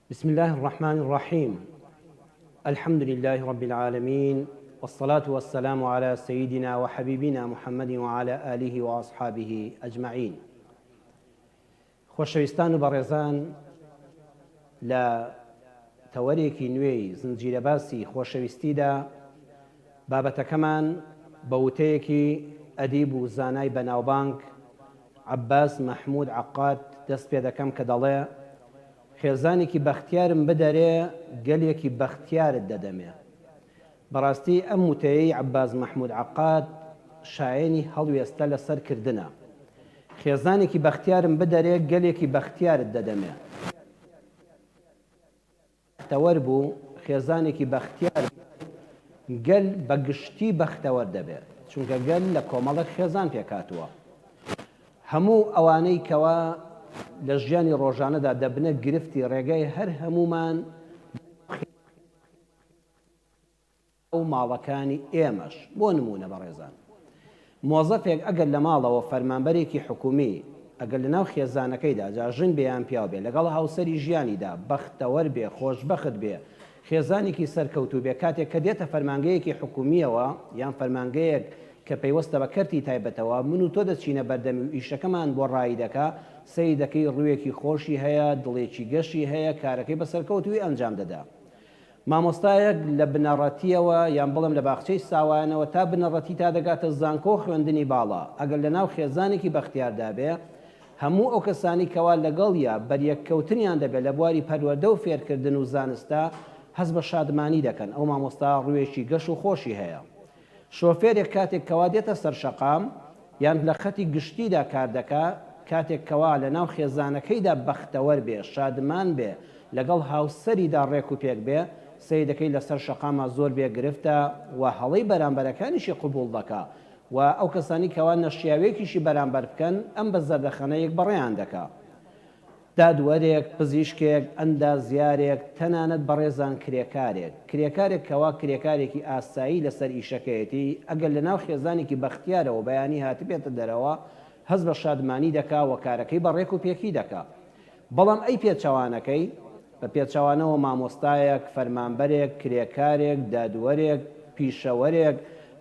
بسم اللە الرحمن الرحیم الحمد للە رب العالمین والصلاة والسلام علی سیدنا وحبیبنا محمد وعلی آله وأصحابه أجمعین خۆشەویستان و بەڕێزان لە تەوەرێکی نوێی زنجیرەباسی خۆشەویستیدا بابەتەکەمان بە وتەیەکی ئەدیب و زانای بەناوبانگ عەباس مەحمود عەقاد دەست پێ دەکەم کە دەڵێ، خێزانێکی بەختیارم بدەرێ، گەلێکی بەختیارت دەدەمێ. بەڕاستی ئەم وتەیەی عەباس مەحمود عەقاد شایەنی هەڵوێستە لە سەر کردنە. خێزانێکی بەختیارم بدەرێ، گەلێکی بەختیارت دەدەمێ. بەختەوەر بوو، خێزانێکی بەختیار بوو، گەل بە گشتی بەختەوەر دەبێ، چونکە گەل لە کۆمەڵێک خێزان پێکهاتووە. هەموو ئەوانەی کەوا لە ژیانی ڕۆژانەدا دەبنە گرفتی ڕێگای هەر هەموومان بۆ ئەو و ماڵەکانی ئێمەش. بۆ نموونە بەڕێزان مۆزەفێک ئەگەر لە ماڵەوە فەرمانبەرێکی حکومی ئەگەر لە ناو خێزانەکەیدا جا ژن بێ یان پیاو بێ لەگەڵ هاوسەری ژیانیدا بەختەوەر بێ خۆشبەخت بێ خێزانێکی سەرکەوتوو بێ کاتێک کە دێتە فەرمانگەیەکی حکومیەوە یان فەرمانگەیەک کە پەیوەستە بە کەرتی تایبەتەوە من و تۆ دەچینە بەردەمی و ئیشەکەمان بۆ ڕایی دەکا سەیری دەکەی ڕووێکی خۆشی هەیە دڵێکی گەشی هەیە کارەکەی بە سەرکەوتووی ئەنجام دەدا مامۆستایەک لە بنەڕەتییەوە یان بڵێم لە باخچەی ساوایانەوە تا بنەڕەتی تا دەگاتە زانکۆ و خوێندنی باڵا ئەگەر لە ناو خێزانێکی بەختیاردا بێ هەموو ئەو کەسانەی کەوا لەگەڵیا بەریەک کەوتنیان دەبێ لە بواری پەروەردە و فێرکردن و زانستدا هەست بە شادمانی دەکەن ئەو مامۆستا ڕووێکی گەش و خۆشی هەیە شۆفێرێک کاتێک کەوا دێتە سەر شەقام یان لە خەتی گشتیدا کار دەکا، کاتێک کەوا لە ناو خێزانەکەیدا بەختەوەر بێ، شادمان بێ، لەگەڵ هاوسەریدا ڕێک و پێک بێ، سەیرەکەی لە سەر شەقاما زۆر بێ گرفتە و هەڵەی بەرامبەرەکانیشی قبووڵ دەکا و ئەو کەسانەی کەوا نەشیاوێکیشی بەرامبەر بکەن ئەم بە زەردەخەنەیەک بەڕێیان دەکا. دادوەرێک، پزیشکێک، ئەندازیارێک، تەنانەت بەڕێزان کرێکارێک، کرێکارێک کەوا کرێکارێکی ئاسایی لەسەر ئیشەکەیەتی، ئەگەر لەناو خێزانێکی بەختیارەوە بەیانی هاتبێتە دەرەوە، هەست بە شادمانی دەکا و کارەکەی بە ڕێک و پێکی دەکا. بەڵام ئەی پێچەوانەکەی؟ بە پێچەوانەوە مامۆستایەک، فەرمانبەرێک، کرێکارێک، دادوەرێک، پیشەوەرێک،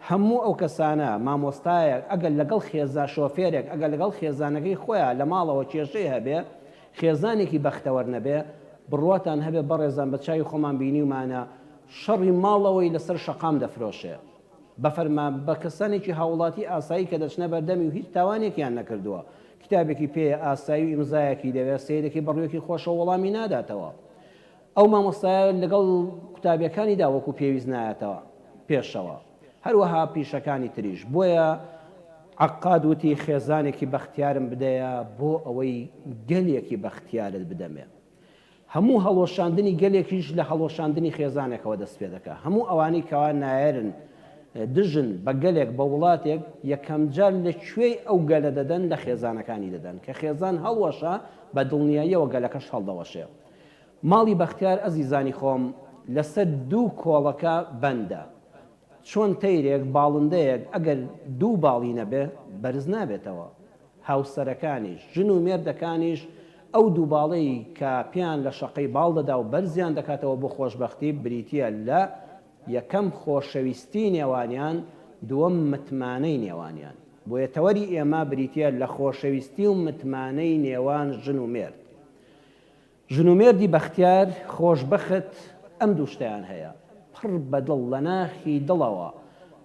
هەموو ئەو کەسانە، مامۆستایەک، ئەگەر لەگەڵ خێزا، شۆفێرێک، ئەگەر لەگەڵ خێزانەکەی خۆیان لە ماڵەوە کێشەی هەبێ، خێزانێکی بەختەوەر نەبێ، بڕواتان هەبێ بەڕێزان بە چاوی خۆمان بینیومانە شەڕی ماڵەوەی لەسەر شەقام دەفرۆشێ. بە فەرما بە کەسانێکی هاوڵاتی ئاسایی کە دەچنە بەردەمی و هیچ تاوانێکیان نەکردووە، کتابێکی پێیە ئاسایی و ئیمزایەکی دەوێ، سەیدەکەی بەڕووێکی خۆشەوە وەڵامی ناداتەوە. ئەو مامۆستایە لەگەڵ قوتابیەکانیدا وەکو پێویست نایەتەوە پێشەوە هەروەها پیشەکانی تریش بۆیە عەقاد وتی خێزانێکی بەختیارم بدەیە بۆ ئەوەی گەلێکی بەختیارت بدەمێ هەموو هەڵوەشاندنی گەلێکیش لە هەڵوەشاندنی خێزانێکەوە دەست پێ دەکا هەموو ئەوانەی کەوا نایەرن دژن بە گەلێک بە وڵاتێک یەکەم جار لە کوێی ئەو گەلە دەدەن لە خێزانەکانی دەدەن کە خێزان هەڵوەشا بە دڵنیاییەوە گەلەکەش هەڵدەوەشێ ماڵی بەختیار ئەزیزانی خۆم لەسەر دوو کۆڵەکە بەندە چۆن تەیرێک باڵندەیەک ئەگەر دوو باڵی نەبێ بەرز نابێتەوە هاوسەرەکانیش ژن و مێردەکانیش ئەو دوو باڵەی کە پێیان لە شەقەی باڵ دەدا و بەرزیان دەکاتەوە بۆ خۆشبەختی بریتیە لە یەکەم خۆشەویستی نێوانیان دووەم متمانەی نێوانیان بۆیە تەوەری ئێمە بریتیە لە خۆشەویستی و متمانەی نێوان ژن و مێرد ژن و مێردی بەختیار خۆش بەخت ئەم دوو شتەیان هەیە، پڕ بە دڵ لە ناخی دڵەوە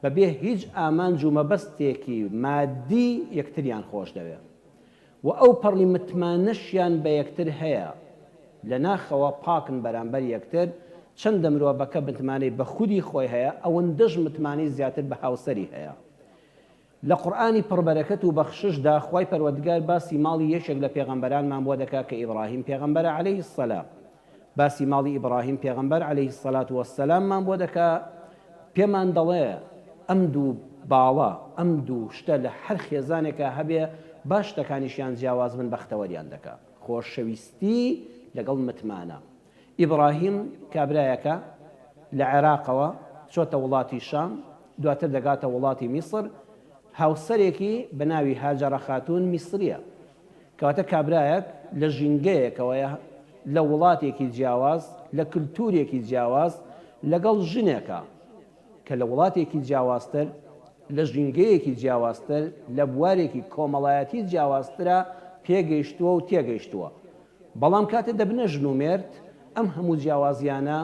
بە بێ هیچ ئامانج و مەبەستێکی مادی یەکتریان خۆش دەوێ و ئەو پەڕی متمانەشیان بە یەکتر هەیە لە ناخەوە پاکن بەرامبەر یەکتر، چەندە مرۆڤەکە متمانەی بە خودی خۆی هەیە ئەوەندەش متمانەی زیاتر بە هاوسەری هەیە. لە قورئانی پڕ بەرەکەت و بەخششدا خوای پەروەردگار باسی ماڵی یەکێک لە پێغەمبەرانمان بۆ دەکات کە ئیبڕاهیم پێغەمبەرە علیە السلام باسی ماڵی ئیبڕاهیم پێغەمبەر علیە الصلوة والسلام مان بۆ دەکا پێمان دەڵێ ئەم دوو باڵە ئەم دوو شتە لە هەر خێزانێکا هەبێ با شتەکانیشیان جیاواز بن بەختەوەریان دەکا خۆشەویستی لەگەڵ متمانە ئیبراهیم کابرایەکە لە عێراقەوە چۆتە وڵاتی شام، دواتر دەگاتە وڵاتی میسر، هاوسەرێکی بە ناوی هاجەرە خاتوون میسرییە. کەواتە کابرایەک لە ژینگەیەکەوەیە لە وڵاتێکی جیاواز، لە کلتوورێکی جیاواز لەگەڵ ژنێکە کە لە وڵاتێکی جیاوازتر، لە ژینگەیەکی جیاوازتر، لە بوارێکی کۆمەڵایەتی جیاوازترا پێگەیشتووە و تێگەیشتووە. بەڵام کاتێ دەبنە ژن و مێرد، ئەم هەموو جیاوازییانە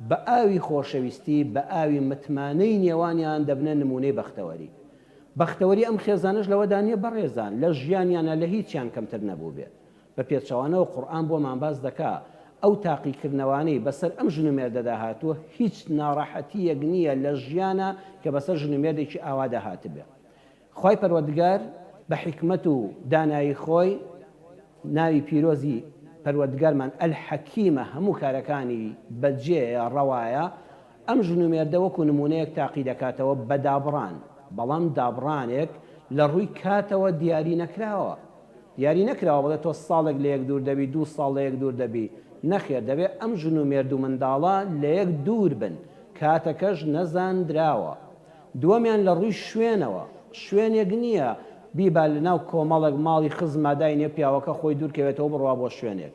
بە ئاوی خۆشەویستی، بە ئاوی متمانەی نێوانیان دەبنە نموونەی بەختەوەری. بەختەوەری ئەم خێزانەش لەوەدا نییە بەڕێزان لە ژیانیانا لە هیچیان کەمتر نەبووبێ. بە پێچەوانەوە قورئان بۆمان باس دەکا ئەو تاقیکردنەوانەی بەسەر ئەم ژن و مێردەدا هاتووە هیچ ناڕەحەتییەک نییە لە ژیانا کە بەسەر ژن و مێردێکی ئاوادا هاتبێ. خوای پەروەردگار بە حیکمەت و دانایی خۆی ناوی پیرۆزی پەروەردگارمان الحکیمە هەموو کارەکانی بەجێیە ڕەوایە ئەم ژن و مێردە وەکو نموونەیەک تاقی دەکاتەوە بە دابڕان بەڵام دابڕانێک لە ڕووی کاتەوە دیاری نەکراوە دیاری نەکراوە بڵێ تۆ ساڵێک لە یەک دوور دەبی دوو ساڵ لە یەک دوور دەبی نەخێر دەبێ ئەم ژن و مێرد و منداڵە لە یەک دوور بن کاتەکەش نەزاندراوە دووەمیان لە ڕووی شوێنەوە، شوێنێک نییە بیبا لەناو کۆمەڵێک ماڵی خزما داینێ پیاوەکە خۆی دوورکەوێتەوە بڕوا بۆ شوێنێک،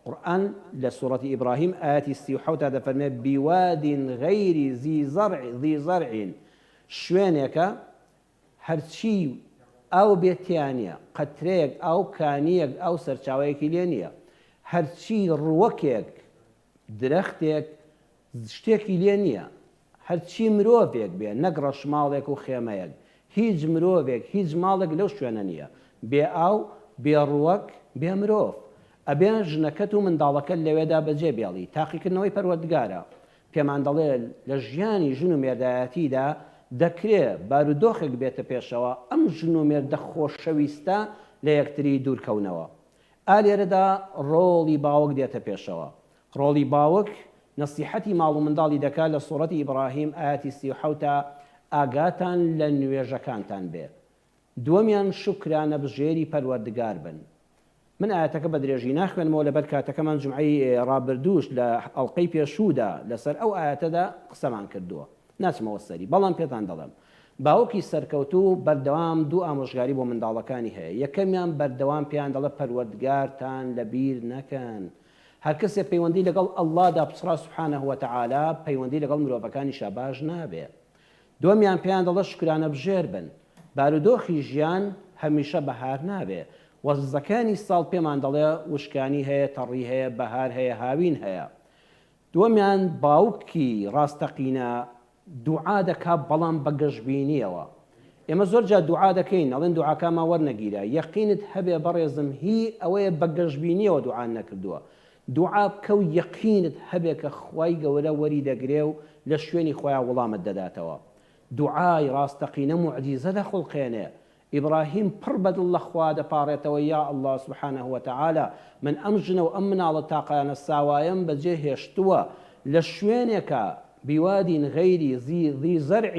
قورئان لە سورەتی ئیبراهیم ئایەتی سی و حەوت دا دەفەرمێ، بواد غیری ذی زرع ذی زرع، شوێنێکە هەرچی ئاو بێت تێیا نییە، قەترەیەک ئاو، کانییەک ئاو سەرچاوەیەکی لێ نییە، هەرچی ڕووەکێک درەختێک شتێکی لێ نییە، هەرچی مرۆڤێک بێ، نەک ڕەشماڵێک و خێمەیەک، هیچ مرۆڤێک، هیچ ماڵێک لەو شوێنە نییە، بێ ئاو، بێ ڕووەک، بێ مرۆڤ. ئەبێ ژنەکەت و منداڵەکەت لەوێدا بەجێ بێڵی، تاقیکردنەوەی پەروەردگارە پێمان دەڵێ لە ژیانی ژن و مێردایەتیدا دەکرێ بارودۆخێک بێتە پێشەوە ئەم ژن و مێردە خۆشەویستە لە یەکتری دوورکەونەوە، ئا لێرەدا ڕۆڵی باوک دێتە پێشەوە، ڕۆڵی باوک نەسیحەتی ماڵ و منداڵی دەکات لە سوڕەتی ئیبڕاهیم ئایەتی سی و حەوت ئاگاتان لە نوێژەکانتان بێ دووەمیان شوکرانە بژێری پەروەردگار بن من ئایەتەکە بە درێژی ناخوێنمەوە لەبەر کاتەکەمان جومعەی ڕابردووش لە ئەڵقەی پێشوودا لەسەر ئەو ئایەتەدا قسەمان کردووە ناچمەوە سەری بەڵام پێتان دەڵێم باوکی سەرکەوتوو بەردەوام دوو ئامۆژگاری بۆ منداڵەکانی هەیە، یەکەمیان بەردەوام پێیان دەڵێت پەروەردگارتان لەبیر نەکەن، هەرکەسێ پەیوەندی لەگەڵ اللەدا پچڕا سبحانە وتعالی پەیوەندی لەگەڵ مرۆڤەکانیشا باش نابێ، دووەمیان پێیان دەڵێت شوکرانەبژێر بن، بارودۆخی ژیان هەمیشە بەهار نابێ، وەرزەکانی ساڵ پێمان دەڵێ وشکانی هەیە تەڕی هەیە بەهار هەیە هاوین هەیە، دووەمیان باوکی ڕاستەقینە دوعا دەکا بەڵام بە گەشبینیەوە ئێمە زۆر جار دوعا دەکەین ئەڵێن دوعاکانمان وەرنەگیرا یەقینت هەبێ بەڕێزم هی ئەوەیە بە گەشبینیەوە دوعات نەکردووە دوعا بکە و یەقینت هەبێ کە خوای گەورە وەری دەگرێ و لە شوێنی خۆیا وڵامت دەداتەوە دوعای ڕاستەقینە موعجیزە دەخوڵقێنێ ئیبراهیم پڕ بەدڵ لە خوا دەپاڕێتەوە، یا اللە سبحانە وتعالی من ئەم ژنە و ئەم مناڵە تاقانە ساوایەم بەجێ هێشتووە لە شوێنێکا، بوادی غیر ذی ذی زرع،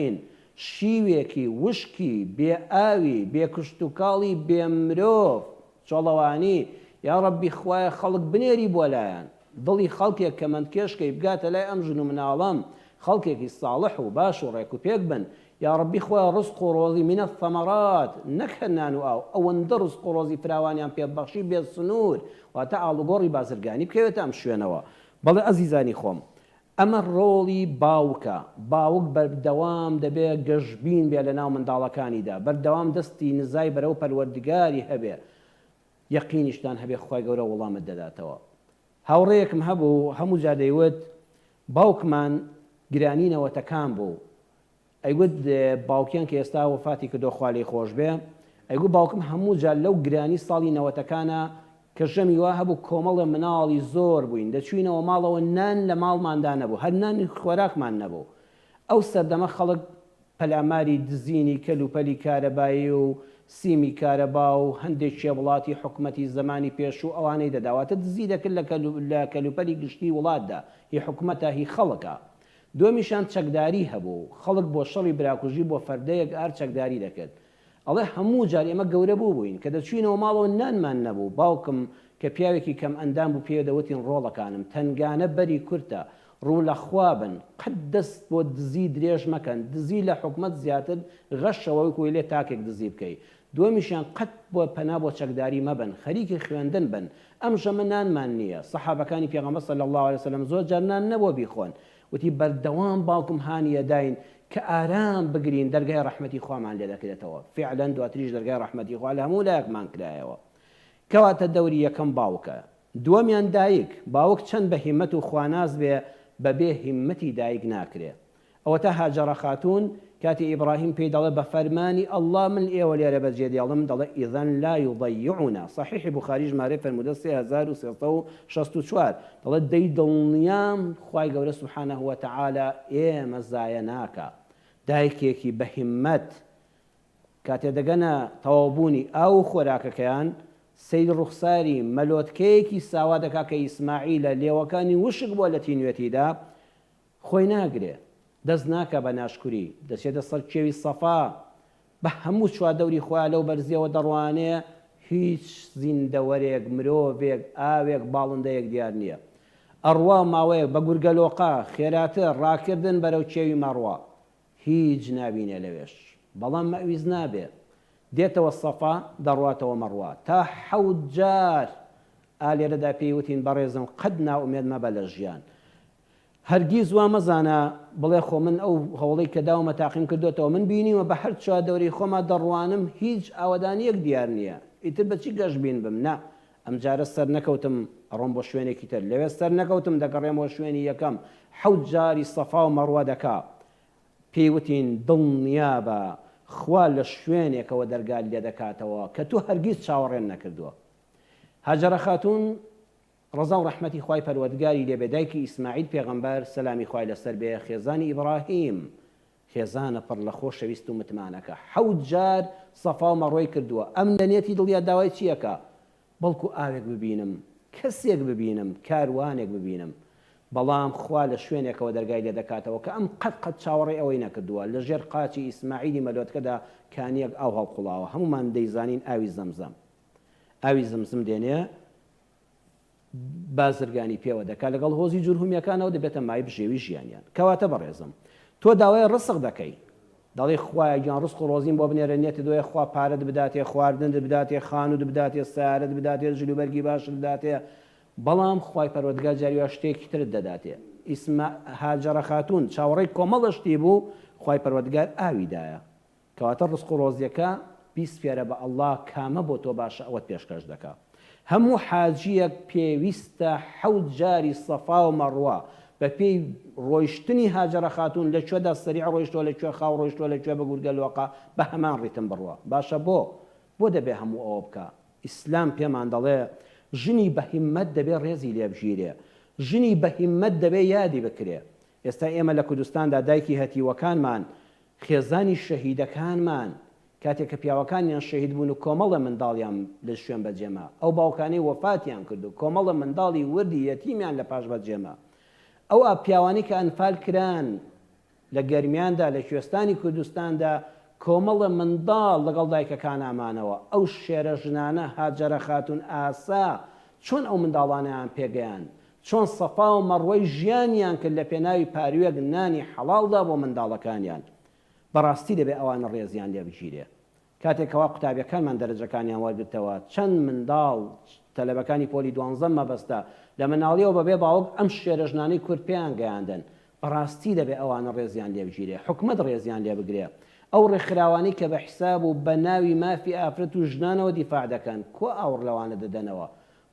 شیوێکی وشکی بێ ئاوی بێ کشتوکاڵی بێ مرۆڤ چۆڵەوانی، یا ربی خوایە خەڵک بنێری بۆ لایان، دڵی خەڵکێک کەمەندکێشکەی بگاتە لای ئەم ژن و مناڵەم، خەڵکێکی ساڵح و باش و ڕێک و پێک بن، یاڕەبی خوایە ڕزق و ڕۆزی من الثمرات نەک هەر نان و ئاو ئەوەندە ڕزق و ڕۆزی فراوانیان پێ بەخشی بێ سنور واتە ئاڵوگۆڕی بازرگانی بکەوێتە ئەم شوێنەوە بەڵێ ئەزیزانی خۆم ئەمە ڕۆڵی باوکە باوک بەردەوام دەبێ گەشبین بێ لەناو منداڵەکانیدا بەردەوام دەستی نزای بەرەو پەروەردگاری هەبێ یەقینیشتان هەبێ خوای گەورە وڵامت دەداتەوە هاوڕێیەکم هەبوو هەموو جار دەیوت باوکمان گرانی نەوەتەکان بوو ئەیگوت باوکیان کە ئێستا وەفاتی کردوە خوا لێی خۆش بێ ئەیگوت باوکم هەموو جار لەو گرانی ساڵی نەوەتەکانا کە ژەمی وا هەبوو کۆمەڵێ مناڵی زۆر بووین دەچووینەوە ماڵەوە نان لە ماڵماندا نەبوو هەر نانی خۆراکمان نەبوو ئەو سەردەمە خەڵک پەلاماری دزینی کەل و پەلی کارەبایی و سیمی کارەبا و هەندێ کێ وڵاتی حکومەتی زەمانی پێشوو ئەوانەی دەدا واتە دزی دەکرد لە کەل و پەلی گشتی وڵاتدا هی حکومەتە هی خەڵکە دومیشان چەکداری هەبوو و خەڵک بۆ شەڕی براکوژی بۆ فەردەیەک ئار چەکداری دەکرد. ئەڵێ هەموو جار ئێمە گەورە بووبووین، کە دەچووینەوە ماڵەوە نانمان نەبوو، باوکم کە پیاوێکی کەم ئەندام بوو پێێ دەوتین ڕۆڵەکانم، تەنگانە بەری کورتە، ڕوو لە خوا بن، قەت دەست بۆ دزی درێژ مەکەن، دزی لە حکومەت زیاتر غەشە وەک وەیلێ تاکێک دزی بکەی، دوەمیشیان قەت بۆ پەنا بۆ چەکداری مەبەن خەریکی خوێندن بن ئەم ژەمە نانمان نیە سەحابەکانی پێغەمبەر صلی اللە علیە وسلم زۆر جار نان نەبوە بیخۆن وتی بەردەوام باوکم هانی ئەداین کە ئارام بگرین دەرگای ڕەحمەتی خوامان لێ دەکرێتەوە فعلا دواتریش دەرگای ڕەحمەتی خوا لە هەموو لایەکمان کرایەوە کەواتە دەوری یەکەم باوکە دووەمیان دایک باوک چەند بە هیمەت و خواناس بێ بەبێ هیمەتی دایک ناکرێ ئەوەتا هاجەڕە خاتوون کاتێ ئیبڕاهیم پێی دەڵێ بە فەرمانی اللە من ئێوە لێرە بەجێ دێڵم دەڵێ اذا لا یضیعنا صحیحی بوخاری ژمارەی فەرموودە سێ هەزار و سێ سەد و شەست و چوار دەڵێ دەی دڵنیام خوای گەورە سبحانە وتعالی ئێمە زایە ناکا دایکێکی بە هیممەت کاتێ دەگەنە تەواو بوونی ئاو و خۆراکەکەیان سەیری ڕوخساری مەلۆتکەیەکی ساوا دەکا کە ئیسماعیلە لێوەکانی وشک بووە لە تینوێتیدا خۆی ناگرێ، دەست ناکا بە ناشکوری، دەچێتە سەر کێوی سەفا، بە هەموو چواردەوری خۆیا لەو بەرزییەوە دەڕوانێ، هیچ زیندەوەرێک، مرۆڤێک، ئاوێک، باڵندەیەک دیار نییە. ئەڕوا ماوەیەک بە گورگەلۆقە، خێراتر، ڕاکردن بەرەو کێوی مەڕوا. هیچ نابینێ لەوێش. بەڵام مەویز نابێ. دێتەوە سەفا، دەڕواتەوە مەڕوا. تا حەوت جار! ئا لێرەدا پێی وتین، بەڕێزم قەت نائومێد مەبە لە ژیان. هەرگیز وا مەزانە بڵێ خۆ من ئەو هەوڵەی کە داومە تاقیم کردۆتەوە، من بینیومە بە هەر چواردەوری خۆما دەڕوانم هیچ ئاوەدانیەک دیار نیە، ئیتر بە چی گەشبین بم، نا ئەمجارە سەرنەکەوتم ئەڕۆم بۆ شوێنێکی تر، لەوێ سەرنەکەوتم دەگەڕێمەوە شوێنی یەکەم، حەوت جاری سەفا و مەڕوە دەکا، پێی وتین دڵنیابە خوا لە شوێنێکەوە دەرگات لێدەکاتەوە کە تۆ هەرگیز چاوەڕێن نەکردوە. هاجەرە خاتوون. ڕەزا و ڕەحمەتی خوای پەروەردگاری لێ بێ دایکی ئیسماعیل پێغەمبەر، سەلامی خوای لەسەر بێ، خێزانی ئیبڕاهیم، خێزانە پڕ لە خۆشەویست و متمانەکە، حەوت جار سەفا و مەڕوەی کردووە، ئەم لە نێتی دڵیا داوای چی ئەکا؟ بەڵکو ئاوێک ببینم، کەسێک ببینم، کاروانێک ببینم. بەڵام خوا لە شوێنێکەوە دەرگای لێ دەکاتەوە کە ئەم قەت قەت چاوەڕێی ئەوەی نەکردووە، لە ژێر قاچی ئیسماعیلی مەلۆتکەدا کانییەک ئاو هەڵقوڵاوە، هەموومان دەیزانین ئاوی زەمزەم. ئاوی زمزم دێنێ بازرگانی پێوە دەکات لەگەڵ هۆزی جورهمیەکانەوە دەبێتە مای بژێوی ژیانیان کەواتە بەڕێزم تۆ داوای ڕسق دەکەی دەڵی خوایە گیان ڕسق و ڕۆزیم بۆ بنێرە نێتە دۆیە خوا پارەت بداتێ خواردن بداتێ خانوت بداتێ سیارەت بداتێ جلوبەرگی باشت بداتێ بەڵام خوای پەروەردگار جاریوا شتێکی ترت دەداتێ ئیسما هاجەڕە خاتون چاوەڕێی کۆمەڵە شتی بوو خوای پەروەردگار ئاوی دایە کەواتە ڕزق و ڕۆزیەکە بیسپێرە بە اللە کامە بۆ تۆ باشە ئەوەت پێشکەش دەکا هەموو حاجیەک پێویستە حەوت جاری صەفا و مەڕوە بەپێی ڕۆیشتنی هاجەرە خاتوون لە کوێدا سەریع ڕۆیشتوە لە کوێ خاو ڕۆیشتوە لە کوێ بە گورگە لۆقە بە هەمان ڕیتم بڕوا باشە بۆ بۆ دەبێ هەموو ئەوە بکا ئیسلام پێمان دەڵێ ژنی بە هیمەت دەبێ ڕێزی لێ بگیرێ ژنی بە هیمەت دەبێ یادی بکرێ ئێستا ئێمە لە کوردستاندا دایکی هەتیوەکانمان خێزانی شەهیدەکانمان کاتێک کە پیاوەکانیان شەهید بوون و کۆمەڵە منداڵیان لە شوێن بەجێما، ئەو باوکانەی وەفاتیان کرد و کۆمەڵە منداڵی وردی یەتیمیان لە پاش بەجێما، ئەو ئا پیاوانەی کە ئەنفال کران لە گەرمیاندا لە کوێستانی کوردستاندا کۆمەڵە منداڵ لەگەڵ دایکەکانا مانەوە، ئەو شێرە ژنانە هاجەرە خاتوون ئاسا چۆن ئەو منداڵانەیان پێگەیاند؟ چۆن سەفا و مەڕوەی ژیانیان کرد لە پێناوی پاروێک نانی حەڵاڵدا بۆ منداڵەکانیان، بەڕاستی دەبێ ئەوانە ڕێزیان لێ بگیرێ. کاتێ کەوا قوتابیەکانمان دەرەجەکانیان وەرگرتەوە، چەند منداڵ، تەلەبەکانی پۆلی دوانزە مەبەستە، لە مناڵیەوە بە بێ باوک ئەم شێرە ژنانەی کورد پێیان گەیاندن، بەڕاستی دەبێ ئەوانە ڕێزیان لێ بگیرێ، حکومەت ڕێزیان لێ بگرێ. ئەو ڕێکخراوانەی کە بە حیساب و بە ناوی مافی ئافرەت و ژنانەوە دیفاع دەکەن، کوا ئاوڕ لەوانە دەدەنەوە؟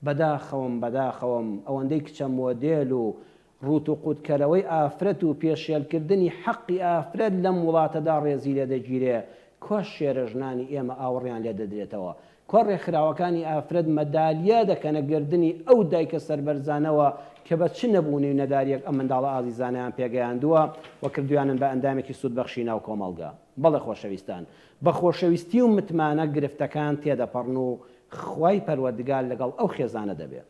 بەداخەوەم بەداخەوەم ئەوەندەی کچە مۆدێل و ڕووت و قووت کەرەوەی ئافرەت و پێشێل کردنی حەقی ئافرەت لەم وڵاتەدا ڕێزی لێ دەگیرێ کوا شێرە ژنانی ئێمە ئاوڕیان لێ دەدرێتەوە کوا ڕێکخراوەکانی ئافرەت مەدالیا دەکەنە گەردنی ئەو دایکە سەربەرزانەوە کە بە چ نەبوونی و نەداریەک ئەم منداڵە ئازیزانەیان پێگەیاندووە و کردویانن بە ئەندامێکی سوود بەخشی ناو کۆمەڵگا. بەڵێ خۆشەویستان، بە خۆشەویستی و متمانە گرفتەکان تێدەپەڕن و خوای پەروەردگار لەگەڵ ئەو خێزانە دەبێ.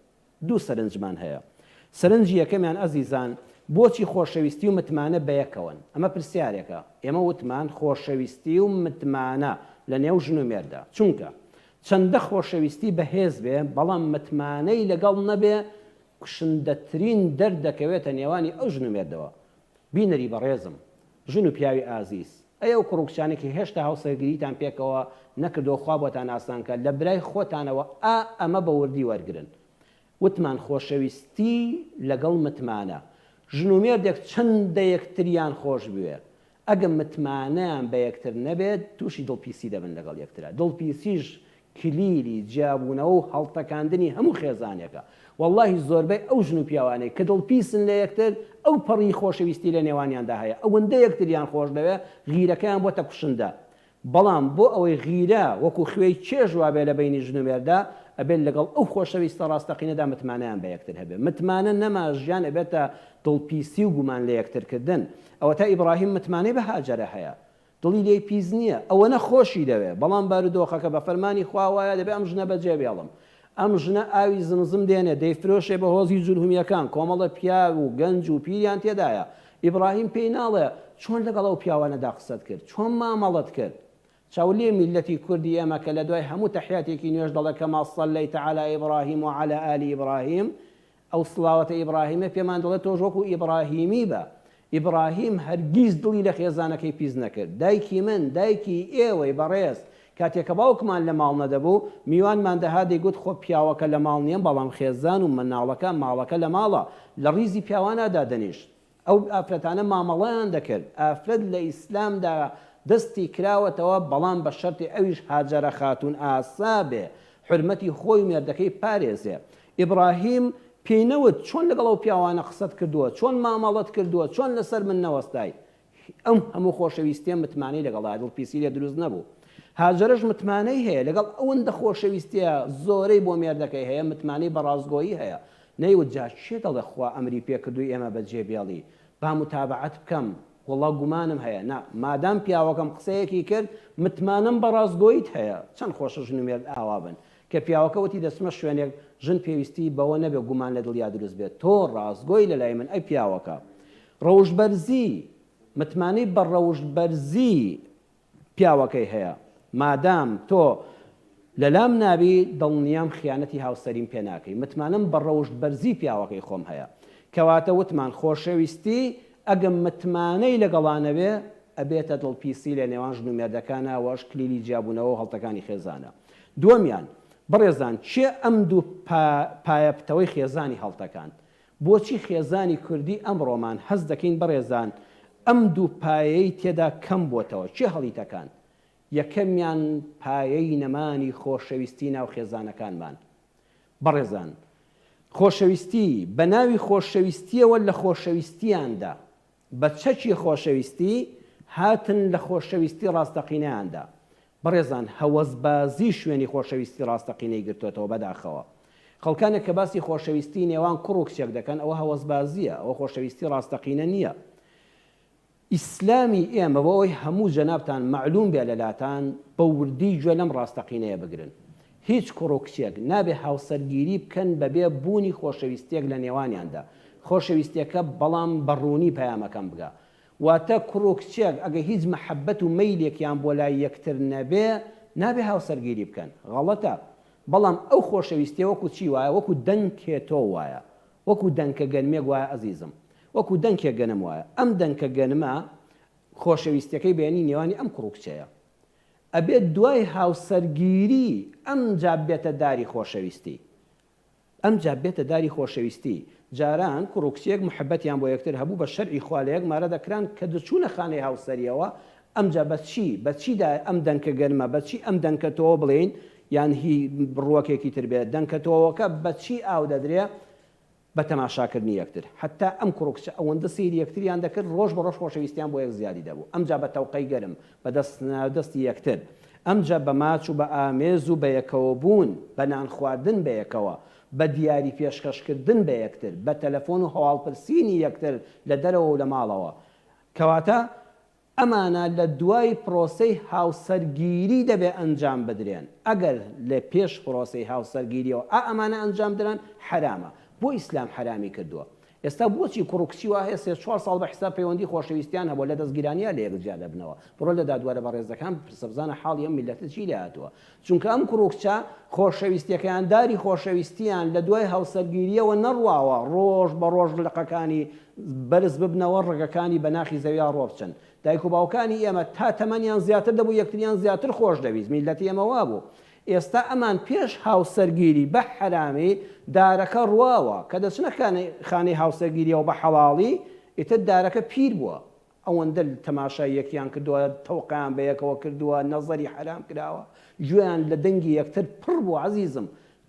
دوو سەرنجمان هەیە. سەرنجی یەکەمیان ئەزیزان، بۆچی خۆشەویستی و متمانە بەیەکەوەن؟ ئەمە پرسیارێکە. ئێمە وتمان خۆشەویستی و متمانە لە نێو ژن و مێرددا. چونکە چەندە خۆشەویستی بەهێز بێ، بەڵام متمانەی لەگەڵ نەبێ، کوشندەترین دەرد دەکەوێتە نێوانی ئەو ژن و مێردەوە. بینەری بەڕێزم، ژن و پیاوی ئازیز، ئەی ئەو کوڕ و کچانەی کە هێشتا هاوسەرگیریتان پێکەوە نەکردووە خوا بۆتان ئاسان کات، لە برای خۆتانەوە ئا ئەمە بە وردی وەرگرن. وتمان خۆشەویستی لەگەڵ متمانە. ژن و مێردێک چەندە یەکتریان خۆش بوێ، ئەگە متمانەیان بە یەکتر نەبێت تووشی دڵپیسی دەبن لەگەڵ یەکترا. دڵپیسیش کلیلی جیابوونەوە و هەڵتەکاندنی هەموو خێزانێکە، وەڵاهی زۆربەی ئەو ژن و پیاوانەی کە دڵپیسن لە یەکتر ئەو پەڕی خۆشەویستی لە نێوانیاندا هەیە ئەوەندە یەکتریان خۆشدەوێ غیرەکەیان بۆتە کوشندە بەڵام بۆ ئەوەی غیرە وەکو خوێی چێژ وابێ لە بەینی ژن و مێردا ئەبێ لەگەڵ ئەو خۆشەویستە ڕاستەقینەدا متمانەیان بە یەکتر هەبێ متمانە نەما ژیان ئەبێتە دڵپیسی و گومان لە یەکترکردن ئەوەتا ئیبڕاهیم متمانەی بە هاجەرە هەیە دڵی لێی پیس نییە، ئەوەنە خۆشی دەوێ، بەڵام بارودۆخەکە بە فەرمانی خوا وایە دەبێ ئەم ژنە بەجێ بێڵم. ئەم ژنە ئاوی زمزم دێنێ دەیفرۆشێ بە هۆزی جورهمییەکان، کۆمەڵە پیاو و گەنج و پیریان تێدایە. ئیبڕاهیم پێی ناڵێ، چۆن لەگەڵ ئەو پیاوانەدا قسەت کرد؟ چۆن مامەڵەت کرد؟ چاو لێ میللەتی کوردی ئێمە کە لە دوای هەموو تەحیاتێکی نوێژ دەڵێ کما صلیت علی ابراهیم و علی ال ابراهیم، ئەو سڵاوەتە ئیبڕاهیمە پێمان دەڵێت تۆش وەکو ئیبڕاهیمی بە. ئیبڕاهیم هەرگیز دڵی لە خێزانەکەی پیس نەکرد. دایکی من، دایکی ئێوەی بەڕێز، کاتێ کە باوکمان لە ماڵ نەدەبوو، میوانمان دەهات دەیگوت خۆ پیاوەکە لە ماڵ نییە، بەڵام خێزان و منداڵەکە، ماڵەکە لە ماڵە، لە ڕیزی پیاوانا دادەنیشت. ئەو ئافرەتانە مامەڵەیان دەکرد، ئافرەت لە ئیسلامدا دەستی کراوەتەوە بەڵام بە شەرتی ئەویش هاجەرە خاتوون ئاسا بێ حورمەتی خۆی و مێردەکەی بپارێزێ. ئیبڕاهیم پێی نەوت چۆن لەگەڵ ئەو پیاوانە قسەت کردووە، چۆن مامەڵەت کردووە، چۆن لەسەر من نەوەستای؟ ئەم هەموو خۆشەویستییە متمانەی لەگەڵدایە، دڵپیسی لێ دروست نەبوو. هاجەرەش متمانەی هەیە، لەگەڵ ئەوەندە خۆشەویستییە زۆرەی بۆ مێردەکەی هەیە، متمانەی بە ڕاستگۆیی هەیە. نەیوت جا کێ دەڵێ خوا ئەمری پێ کردووی ئێمە بە جێ بێڵی با موتابەعەت بکەم وەڵا گومانم هەیە نا مادام پیاوەکەم قسەیەکی کرد متمانەم بە ڕاستگۆییت هەیە چەند خۆشە ژن و مێرد ئاوا بن کە پیاوەکە وتی دەچمە شوێنێک ژن پێویستی بەوە نەبێ گومان لە دڵیا دروست بێت تۆ ڕاستگۆی لە لای من ئەی پیاوەکە ڕەوشت بەرزی متمانەی بە ڕەوشت بەرزی پیاوەکەی هەیە مادام تۆ لەلام نابی دڵنیام خیانەتی هاوسەریم پێ ناکەی متمانەم بە ڕەوشت بەرزی پیاوەکەی خۆم هەیە کەواتە وتمان خۆشەویستی ئەگەم متمانەی لەگەڵا نەبێ ئەبێتە دڵ پیسی لە نێوان ژن و مێردەکانا وەش کلیلی جیابونەوەو هەڵتەکانی خێزانە دووەمیان بەڕێزان کێ ئەم دوو پایە پتەوەی خێزانی هەڵتەکاند بۆچی خێزانی کوردی ئەمڕۆمان هەست دەکەین بەڕێزان ئەم دوو پایەی تێدا کەم بۆتەوە چێ هەڵی تەکان؟ یەکەمیان پایەی نەمانی خۆشەویستی ناو خێزانەکانمان بەڕێزان خۆشەویستی بەناوی خۆشەویستیەوە لە خۆشەویستیاندا بە چەکی خۆشەویستی هاتن لە خۆشەویستی ڕاستەقینەیاندا. بەڕێزان هەوەسبازی شوێنی خۆشەویستی ڕاستەقینەی گرتۆتەوە بەداخەوە. خەڵکانێک کە باسی خۆشەویستی نێوان کوڕ و کچێک دەکەن ئەوە هەوەسبازیە ئەوە خۆشەویستی ڕاستەقینە نیە. ئیسلامی ئێمە بۆ ئەوەی هەموو جەنابتان مەعلوم بێ لەلاتان بە وردی گوێ لەم ڕاستەقینەیە بگرن. هیچ کوڕ و کچێک نابێ هاوسەرگیری بکەن بەبێ بوونی خۆشەویستیەک لە نێوانیاندا خۆشەویستیەکە بەڵام بە ڕوونی پەیامەکەم بگا واتە کوڕ و کچێک ئەگە هیچ مەحەبەت و مەیلێکیان بۆ لای یەکتر نەبێ نابێ هاوسەرگیری بکەن غەڵەتە بەڵام ئەو خۆشەویستیە وەکو چی وایە وەکو دەنکێ تۆ وایە وەکو دەنکە گەنمێک وایە ئەزیزم وەکو دەنکێ گەنم وایە ئەم دەنکە گەنمە خۆشەویستیەکەی بەینی نێوانی ئەم کوڕ و کچەیە ئەبێت دوای هاوسەرگیری ئەمجا بێتە داری خۆشەویستی ئەمجا بێتە داری خۆشەویستی جاران کوڕو کچێک محبەتیان بۆ یەکتر هەبوو بە شەرعی خوا لەیەک مارە دەکران کە دەچوونە خانەی هاوسەریەوە ئەمجا بە چی بە چی دا ئەم دەنکە گەرمە بە چی ئەم دەنکە تۆوە بڵێین یان هی ڕووەکێکی تر بێت دەنکە تۆوەکە بە چی ئاو دەدرێ بە تەماشاکردنی یەکتر، حەتتا ئەم کوڕ و کچە ئەوەندە سەیری یەکتریان دەکرد، ڕۆژ بە ڕۆژ خۆشەویستیان بۆ یەک زیادی دەبوو، ئەمجا بە تەوقەی گەرم، بە دەست ناودەستی یەکتر، ئەمجا بە ماچ و بە ئامێز و بەیەکەوەبوون، بە نان خواردن بەیەکەوە، بە دیاری پێشکەشکردن بە یەکتر، بە تەلەفۆن و هەواڵپرسینی یەکتر لە دەرەوە و لە ماڵەوە. کەواتە ئەمانە لە دوای پرۆسەی هاوسەرگیری دەبێ ئەنجام بدرێن، ئەگەر لە پێش پرۆسەی هاوسەرگیریەوە ئا ئەمانە ئەنجام دران حەرامە، بۆ ئیسلام حەرامی کردووە؟ ئێستا بۆچی کوڕ و کچی وا هەیە سێ چوار ساڵ بە حیساب پەیوەندی خۆشەویستیان هەبووە لە دەستگیرانیان لە یەک جیا دەبنەوە، بڕۆ لە دادوەرە بەڕێزەکان بپرسە بزانە حاڵی ئەم میللەتە چی لێ هاتووە، چونکە ئەم کوڕ و کچە خۆشەویستیەکەیان داری خۆشەویستیان لە دوای هاوسەرگیریەوە نەڕواوە ڕۆژ بە ڕۆژ لقەکانی بەرز ببنەوە ڕەگەکانی بە ناخی زەویا ڕۆبچن دایک و باوکانی ئێمە تا تەمەنیان زیاتر دەبوو یەکتریان زیاتر خۆش دەویست میلەتی ئێمە وابوو ئێستا ئەمان پێش هاوسەرگیری بە حەرامی دارەکە ڕواوە کە دەچنە خانەی هاوسەرگیریەوە بە حەڵاڵی ئیتر دارەکە پیر بووە ئەوەندە تەماشای یەکیان کردوە تەوقەیان بەیەکەوە کردوە نەزەری حەرام کراوە گوێیان لە دەنگی یەکتر پڕ بوە عەزیزم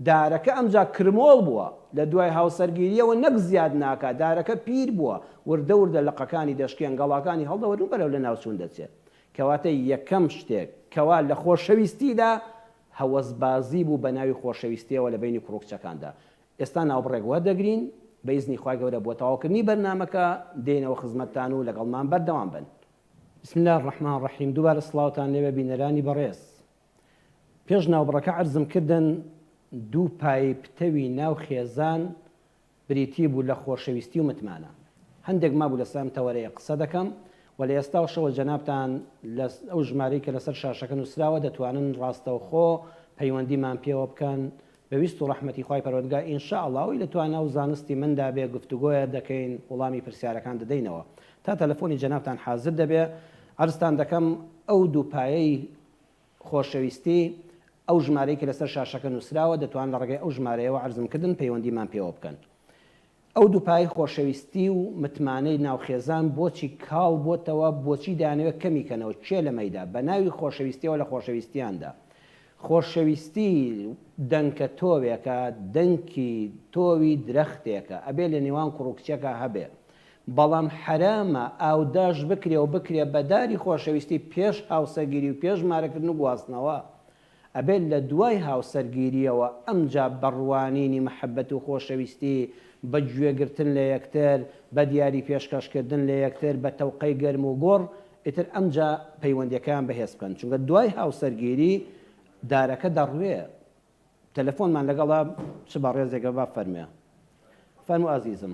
دارەکە ئەمجا کرمۆڵ بوە لە دوای هاوسەرگیریەوە نەک زیاد ناکا دارەکە پیر بوە وردە وردە لقەکانی دەشکێن گەڵاکانی هەڵدەوەرن بەرەو لە ناوچون دەچێت کەواتە یەکەم شتێک کەوا لە خۆشەویستیدا هەوەس بازی بو بەناوی خۆشەویستیەوە لە بەینی کوڕو کچەکاندا ئێستا ناوبڕێک وەردەگرین بە ئیزنی خوای گەورە بۆ تەواوکردنی بەرنامەکە دێینەوە خزمەتتان و لەگەڵمان بەردەوام بن. بسم اللە الرحمن الرحیم دووبارە سڵاوتان لێبێ بینەرانی بەڕێز پێش ناوبڕەکە عەرزم کردن دوو پایەی پتەوی ناو خێزان بریتی بوو لە خۆشەویستی و متمانە هەندێک مابوو لەسەر ئەم تەوەرەیە قسە دەکەم و لە ئێستاشەوە جەنابتان لە ئەو ژمارەی کە لەسەر شاشەکە نووسراوە دەتوانن ڕاستەوخۆ پەیوەندیمان پێوە بکەن بە ویست و ڕەحمەتی خوای پەروەردگا ان شاء اللە ئەوەی لە توانا و زانستی مندا بێ گفتوگۆیە دەکەین وڵامی پرسیارەکان دەدەینەوە تا تەلەفۆنی جەنابتان حازر دەبێ عەرزتان دەکەم ئەو دوو پایەی خۆشەویستی ئەو ژمارەی کە لەسەر شاشەکە نووسراوە دەتوان لە ڕێگەی ئەو ژمارەیەوە عەرزم کردن پەیوەندیمان پێوە بکەن ئەو دوو پایەی خۆشەویستی و متمانەی ناو خێزان بۆچی کاڵ بۆتەوە، بۆچی دەیانەوێت کەمی کەنەوە، کێ لەمەیدا، بەناوی خۆشەویستیەوە لە خۆشەویستیاندا، خۆشەویستی دەنکە تۆوێکە، دەنکی تۆوی درەختێکە، ئەبێ لە نێوان کوڕو کچەکا هەبێ، بەڵام حەرامە ئاوداش بکرێ و بکرێ بە داری خۆشەویستی پێش هاوسەگیری و پێش مارەکردن و گواستنەوە، ئەبێت لە دوای هاوسەرگیرییەوە ئەمجا بە ڕوانینی مەحەبەت و خۆشەویستی، بە گوێگرتن لە یەکتر، بە دیاری پێشکەشکردن لە یەکتر، بە تەوقەی گەرم و گوڕ، ئیتر ئەمجا پەیوەندییەکەیان بەهێز بکەن. چونکە دوای هاوسەرگیری دارەکە دەڕوێ. تەلەفۆنمان لەگەڵە چ بەڕێزێکە بابفەرموێ. فەرموو ئازیزم.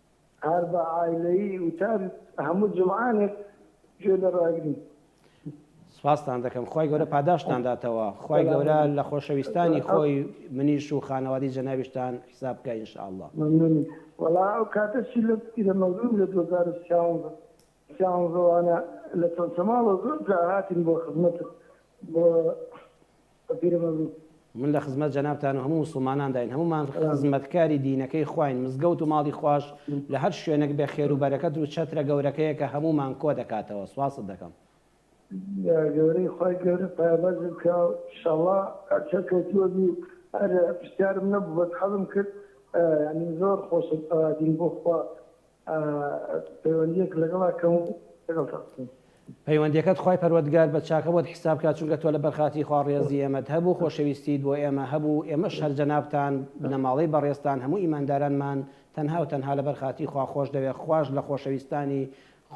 هەر بە عایلەیی وتار هەموو جمعانێک گوێ لە ڕاگرین. سپاستان دەکەم خوای گەورە پاداشتان داتەوە خوای گەورە لە خۆشەویستانی خۆی منیش و خانەوادی جەنابیشتان حیساب بکە ان شاء اللە. مەمنونی وەڵا ئەو کاتەشی لەت بگرە مەزنم لە دوو هەزار و سیانزە سیانزەوانە لە چەمچەماڵەوە زۆر جار هاتین بۆ خزمەتت بۆ بەبیرە مەبروک. من لە خزمەت جەنابتان و هەموو موسڵمانانداین هەموومان خزمەتکاری دینەکەی خواین مزگەوت و ماڵی خواش لە هەر شوێنەک بێ خێر و بەرەکەت و چەترە گەورەکەیە کە هەموومان کۆ دەکاتەوە سوپاست دەکەم. گەورەی خوای گەورە پایەبەرزت کا شەڵا هەر سەرکەوتووە بی هەر پرسیارم نەبوو بەس حەزم کرد یانی زۆر خۆشە ئەوادین بۆ خوا پەیوەندیەک لەگەڵ ئەکەم و لەگەڵ تا بکەم. پەیوەندیەکەت خوای پەروەردگار بە چاکە بۆت حیساب کا چونکە تۆ لەبەر خاتری خوا ڕێزی ئێمەت هەبوو خۆشەویستیت بۆ ئێمە هەبوو ئێمەش هەر جەنابتان بنەماڵەی بەڕێزتان هەموو ئیماندارانمان تەنها و تەنها لەبەر خاتری خوا خۆش دەوێ خواش لە خۆشەویستانی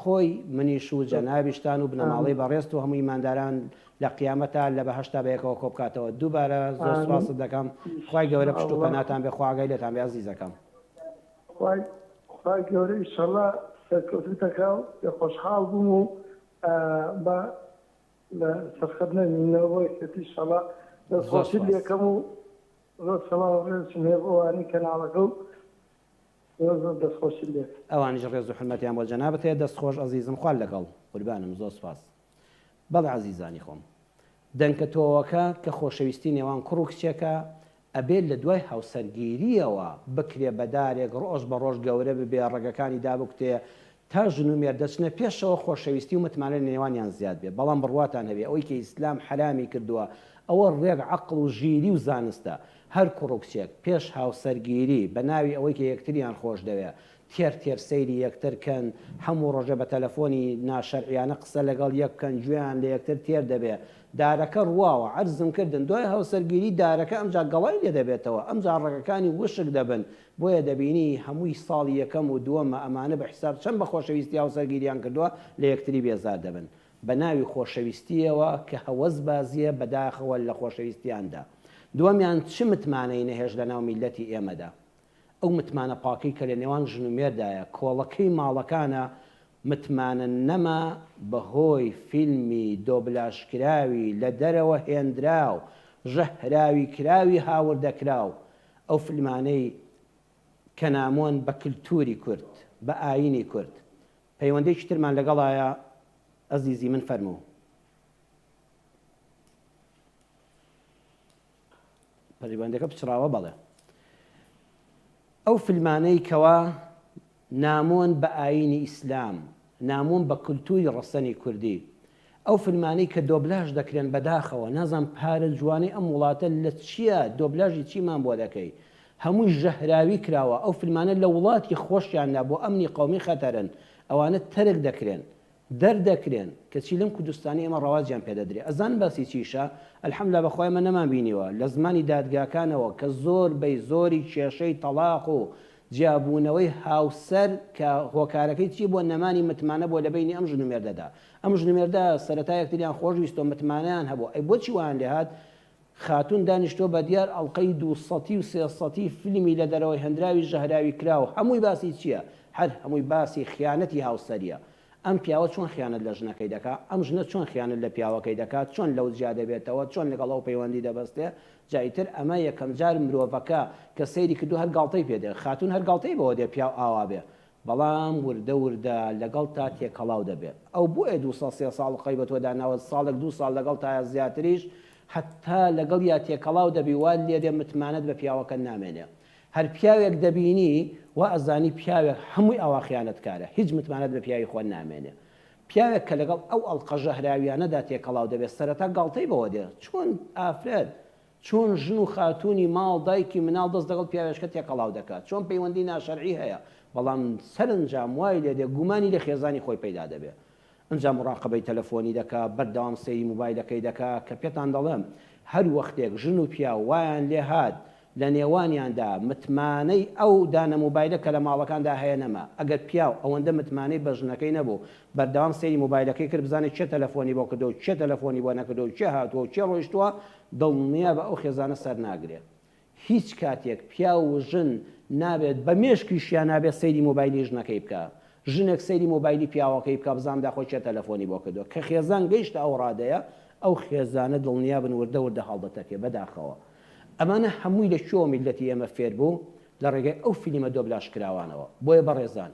خۆی منیش و جەنابیشتان و بنەماڵەی بەڕێزت و هەموو ئیمانداران لە قیامەتا لە بەهەشتا بەیەکەوە کۆبکاتەوە دووبارە زۆر سوپاست دەکەم خوای گەورە پشت و پەناتان بێ خوا ئاگای لێتان بێ ئەزیزەکەم. خوای خوای گەورە ئیشەڵا سەرکەوتوتەکاو پێ خۆشحاڵ بووم و با لە سەرخەت نەمینەوە بۆ یەکێتی ئیشەڵا دەستخۆشی لەکەم و زۆر سەڵاو و ڕێزشم هەیە بۆ ئەوانەی کەناڵەکە و زۆر زۆر دەستخۆشی لێ ئەوانیش ڕێز و حورمەتیان بۆ جەنابت هەیە دەست خۆش ئەزیزم خوا لەگەڵ قوربانم زۆر سوپاس. بەڵێ ئازیزانی خۆم. دەنکە تۆوەکە کە خۆشەویستی نێوان کوڕ و کچێکە، ئەبێ لە دوای هاوسەرگیرییەوە بکرێ بە دارێک ڕۆژ بە ڕۆژ گەورە ببێ ڕەگەکانی دابکوتێ تا ژن و مێرد دەچنە پێشەوە خۆشەویستی و متمانە لە نێوانیان زیاد بێ بەڵام بڕواتان هەبێ ئەوەی کە ئیسلام حەرامی کردووە ئەوە ڕێک عەقڵ و ژیری و زانستە هەر کوڕ و کچێک پێش هاوسەرگیری بە ناوی ئەوەی کە یەکتریان خۆش دەوێ تێر تێر سەیری یەکتر کەن هەموو ڕۆژێ بە تەلەفۆنی ناشەرعیانە قسە لەگەڵ یەک بکەن گوێیان لە یەکتر تێر دەبێ دارەکە ڕواوە عەرزم کردن دوای هاوسەرگیری دارەکە ئەمجا گەڵای لێ دەبێتەوە ئەمجا ڕەگەکانی وشک دەبن بۆیە دەبینی هەمووی ساڵی یەکەم و دووەمە ئەمانە بە حیساب چەند بە خۆشەویستی هاوسەرگیریان کردووە لە یەکتری بێزار دەبن بە ناوی خۆشەویستیەوە کە هەوەس بازیە بە داخەوە لە خۆشەویستیاندا دووەمیان چ متمانەی نەهێشت لە ناو میلەتی ئێمەدا ئەو متمانە پاکەی کە لە نێوان ژن و مێردایە کۆڵەکەی ماڵەکانە، متمانە نەما بەهۆی فیلمی دۆبلاژکراوی لە دەرەوە هێنراو ژەهراوی کراوی هاوردەکراو، ئەو فیلمانەی کە نامۆن بە کلتوری کورد، بە ئایینی کورد. پەیوەندێکی ترمان لەگەڵایە ئەزیزی من فەرموو. پەیوەندەکە پچڕاوە بەڵێ. ئەو فلمانەی کەوا نامۆن بە ئاینی ئیسلام، نامۆن بە کلتوری ڕەسەنی کوردی، ئەو فلمانەی کە دۆبلاژ دەکرێن بەداخەوە نازانم پارە جوانەی ئەم وڵاتە لە چیە دۆبلاژی چیمان بۆ دەکەی هەمووی ژەهراوی کراوە ئەو فلمانە لە وڵاتی خۆشیاندا بۆ ئەمنی قەومی خەتەرن ئەوانە تەرک دەکرێن دەردەکرێن کەچی لەم کوردستانەی ئێمە ڕەواجیان پێدەدرێ ئەزانن باسی چیشە الحمدللە بەخوای ئێمە نەمان بینیوە لە زمانی دادگاکانەوە کە زۆر بەی زۆری کێشەی تەڵاق و جیابوونەوەی هاوسەر کە هۆکارەکەی چی بووە نەمانی متمانە بووە لەبەینی ئەم ژن و مێردەدا ئەم ژن و مێردە سەرەتا یەکتریان خۆش ویستوە متمانەیان هەبوو ئەی بۆچی وایان لێهات خاتوون دانیشتووە بە دیار ئەڵقەی دوو سەتی و سێ سەتی فیلمی لە دەرەوەی هەندراوی ژەهراوی کراو هەمووی باسی چیە هەر هەمووی باسی خیانەتی هاوسەریە ئەم پیاوە چۆن خیانەت لە ژنەکەی دەکا ئەم ژنە چۆن خیانەت لە پیاوەکەی دەکا چۆن لەو جیا دەبێتەوە چۆن لەگەڵ ئەو پەیوەندی دەبەستێ جا ئیتر ئەمە یەکەم جار مرۆڤەکە کە سەیری کردوە هەر گاڵتەی پێ دێ خاتوون هەر گاڵتەی بەوە دێ پیاو ئاوا بێ بەڵام وردە وردە لەگەڵتا تێکەڵاو دەبێت. ئەو بۆیە دوو ساڵ سێ ساڵ خۆی بە تۆ داناوە، ساڵێک دوو ساڵ لەگەڵتایە زیاتریش، هەتا لەگەڵیا تێکەڵاو دەبی وات لێدێ متمانەت بە پیاوەکەت نامێنێ. هەر پیاوێک دەبینی وا ئەزانی پیاوێک هەمووی ئاوا خیانەتکارە، هیچ متمانەت بە پیاوی خۆت نامێنێ. پیاوێک کە لەگەڵ ئەو ئەڵقە ژەهراویانەدا تێکەڵاو دەبێت سەرەتا گاڵتەی بەوە دێ، چۆن ئافرەت چۆن ژن و خاتوونی ماڵ، دایکی مناڵ دەست لەگەڵ پیاوێشکە تێکەڵاو دەکات، چۆن پەیوەندی ناشەرعی هەیە، بەڵام سەرنجام وای لێ دێ گومانی لە خێزانی خۆی پەیدا دەبێ. ئنجا مڕاقەبەی تەلەفۆنی دەکا، بەردەوام سەیری موبایلەکەی دەکا، کە پێتان دەڵێم هەر وەختێک ژن و پیاو وایان لێ هات لە نێوانیاندا متمانەی ئەو دانە موبایلە کە لە ماڵەکاندا هەیە نەما، ئەگەر پیاو ئەوەندە متمانەی بە ژنەکەی نەبوو، بەردەوام سەیری موبایلەکەی کرد بزانێ کێ تەلەفۆنی بۆ کردوە و کێ تەلەفۆنی بۆ نەکردوە و کێ هاتوە و کێ ڕۆیشتوە، دڵنیابە ئەو خێزانە سەرناگرێ هیچ کاتێک پیاو و ژن نابێت بە مێشکیشیا نابێت سەیری مۆبایلی ژنەکەی بکا ژنێک سەیری مۆبایلی پیاوەکەی بکا بزانم داخۆ کێ تەلەفۆنی بۆ کردوە کە خێزان گەیشتە ئەو ڕادەیە ئەو خێزانە دڵنیابن وردە وردە هەڵدەتەکێ بەداخەوە ئەمانە هەمووی لە کوێوە میللەتی ئێمە فێربوو لە ڕێگای ئەو فلیمە دۆبلاژکراوانەوە بۆیە بەڕێزان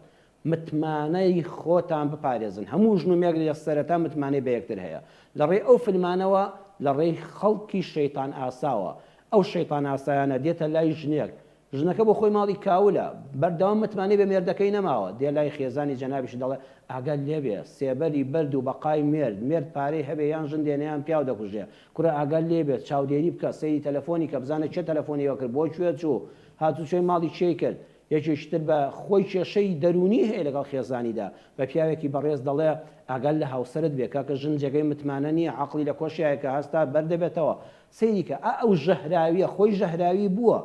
متمانەی خۆتان بپارێزن هەموو ژن و مێرد لە سەرەتا متمانەی بە یەکتر هەیە لە ڕێی ئەو فلمانەوە لە ڕێی خەڵکی شەیتان ئاساوە ئەو شەیتان ئاسایانە دێتە لای ژنێک ژنەکە بۆ خۆی ماڵی کاولە بەردەوام متمانەی بە مێردەکەی نەماوە دێ لای خێزانی جەنابیشی دەڵێ ئاگات لێبێ سێبەری بەرد و بەقای مێرد مێرد پارەی هەبێ یان ژن دێنێ یان پیاو دەکوژێ کورە ئاگات لێبێ چاودێری بکە سەیری تەلەفۆنی کە بزانە کێ تەلەفۆنی ئەوکرد بۆ کوێ چوو هاتوچۆی ماڵی کێی کرد یەکێکی تر بە خۆی کێشەی دەروونی هەیە لەگەڵ خێزانیدا، بە پیاوێکی بەڕێز دەڵێ، ئاگات لە هاوسەرت بێ، کاکە ژن جێگەی متمانە نییە، عەقڵی لە کۆشیایەکە هەستا بەر دەبێتەوە. سەیری کە، ئا ئەو ژەهراوییە، خۆی ژەهراوی بووە،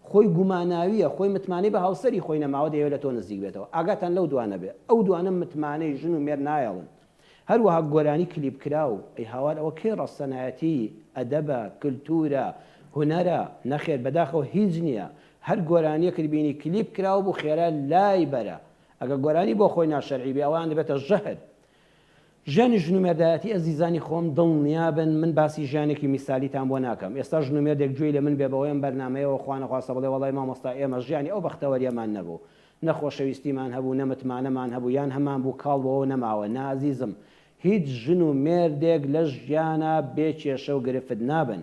خۆی گوماناوییە، خۆی متمانەی بە هاوسەری خۆی نەماوە دەیەوێ لە تۆ نزیک بێتەوە. ئاگاتان لەو دوانە بێ، ئەو دوانە متمانەی ژن و مێرد نایەڵن. هەروەها گۆرانی کلیپکراو، ئەی هاوار ئەوە کەی ڕەسەنایەتی، ئەدەبە، کلتورە، هونەرە، نەخێر بەداخەوە هیچ نیە، هەر گۆرانیەکت بینی کلیپ کراو بوو خێرا لای بەرە، ئەگەر گۆرانی بۆ خۆی ناشەرعی بێ ئەوان دەبێتە ژەهر. ژیانی ژن و مێردایەتی ئەزیزانی خۆم دڵنیابن من باسی ژیانێکی میسالیتان بۆ ناکەم ئێستا ژن و مێردێک گوێی لە من بێ بەهۆی ئەم بەرنامەیەوە خوانەخواستە بڵێ وەڵای مامۆستا ئێمە ژیانی ئەو بەختەوەریەمان نەبوو نە خۆشەویستیمان هەبوو نە متمانەمان هەبوو یان هەمان بوو کاڵ بۆوە نەماوە نا ئەزیزم هیچ ژن و مێردێک لەش ژیانا بێ کێشە و گرفت نابن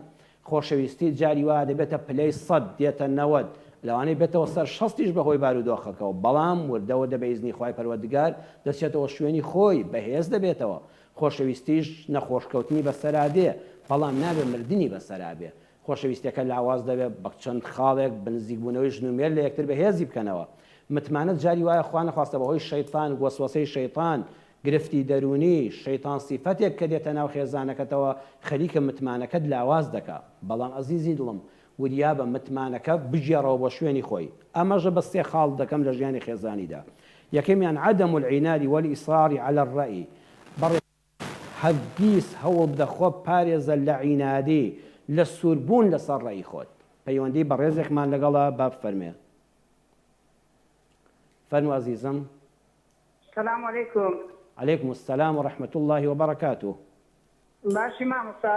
خۆشەویستی جاری وا دەبێتە پلەی سەد دێتە نەوەد لەوانەی بێتەوە سەر شەستیش بەهۆی باروودۆخەکەوە بەڵام وردە وردە بە ئیزنی خوای پەروەردگار دەچێتەوە شوێنی خۆی بەهێز دەبێتەوە خۆشەویستیش نەخۆش کەوتنی بەسەرا دێ بەڵام نابێ مردنی بەسەرا بێ خۆشەویستیەکە لاواز دەبێ بە چەند خاڵێک بە نزیک بوونەوەی ژن و مێرد لە یەکتر بە هێزی بکەنەوە متمانە جاری وایە خوا نەخواستە بە هۆی شەیتان وەسوەسەی شەیتان گرفتی دەروونی شەیتان سیفەتێک کە دێتە ناو خێزانەکەتەوە خەریکە متمانەکەت لاواز دەکا بەڵام ئەزیزی دڵم وریابە متمانەکە بگێڕەوە بۆ شوێنی خۆی ئەمەژە بە سێ خاڵ دەکەم لە ژیانی خێزانیدا یەکەمیان عدم العناد والاصرار علی الرای بەڕێز هەرگیز هەوڵ دە خۆ پارێزە لە عینادی، لە سوور بوون لە سەر ڕێی خۆت. پەیوەندی بەڕێزێکمان لەگەڵە با بفەرمێ. فەرموو ئەزیزم. سلام علیکم. علیکم السلام و رحمت اللە و برکاته. باشی مامۆستا؟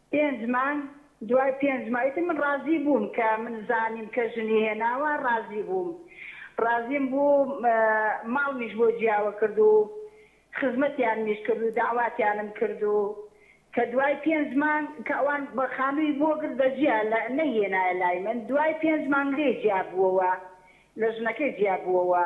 پێنج مانگ دوای پێنج مانگ ئیتر من ڕازی بووم کە من زانیم کە ژنی هێناوە ڕازی بووم ڕازیم بوو ماڵمیش بۆ جیاوە کرد و خزمەتیان میش کرد و داواتیانم کرد و کە دوای پێنج مانگ کە ئەوان بە خانووی بۆ گرت دە جیا لە نەی هێنایە لای من دوای پێنج مانگ لێی جیا بووەوە لە ژنەکەی جیا بووەوە.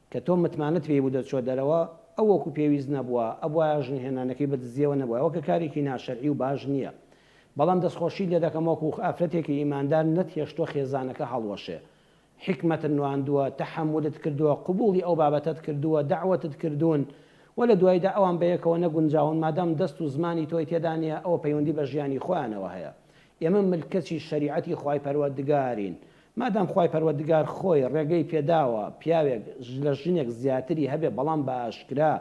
کە تۆ متمانەت پێی بوو دەرچووە دەرەوە ئەو وەکو پێویست نەبووە ئەبوایە ژن هێنانەکەی بدزیەوە نەبوایە وەکە کارێکی ناشەرعی و باش نیە بەڵام دەستخۆشیت لێ دەکەم وەکو ئافرەتێکی ئیماندار نەت هێشتووە خێزانەکە هەڵوەشێ حیکمەتت نواندووە تەحەمولت کردووە قبوڵی ئەو بابەتەت کردووە دەعوەتت کردوون و لە دوایدا ئەوان بەیەکەوە نەگونجاون مادام دەست و زمانی تۆی تێدا نیە ئەوە پەیوەندی بە ژیانی خۆیانەوە هەیە ئێمە ملکەچی شەریعەتی خوای پەروەردگارین مادام خوای پەروەردگار خۆی ڕێگەی پێداوە پیاوێک لە ژنێک زیاتری هەبێ بەڵام بە ئاشکرا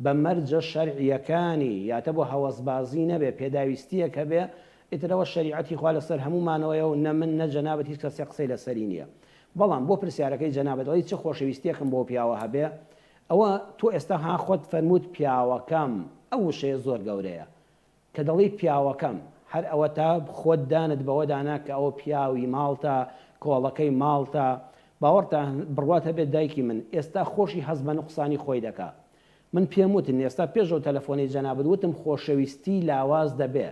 بە مەرجە شەرعیەکانی یاتە بۆ هەوەسبازی نەبێ پێداویستیەک هەبێ ئیتر ئەوە شەریعەتی خوا لەسەر هەموومانەوەیە و نە من نە جەنابت هیچ کەسێک قسەی لەسەری نیە بەڵام بۆ پرسیارەکەی جەنابت ئەڵێی چ خۆشەویستیەکم بۆ پیاوە هەبێ ئەوە تۆ ئێستا ها خۆت فەرمووت پیاوەکەم ئەو وشەیە زۆر گەورەیە کە دەڵێی پیاوەکەم، هەر ئەوەتە خۆت دانت بەوە دانا کە ئەوە پیاوی ماڵتە، کۆڵەکەی ماڵتە. باوەڕتە بڕوات هەبێت دایکی من، ئێستا خۆشی هەست بە نوقسانی خۆی دەکا. من پێم وتن، ئێستا پێش ئەو تەلەفۆنەی جەنابت وتم خۆشەویستی لاواز دەبێ.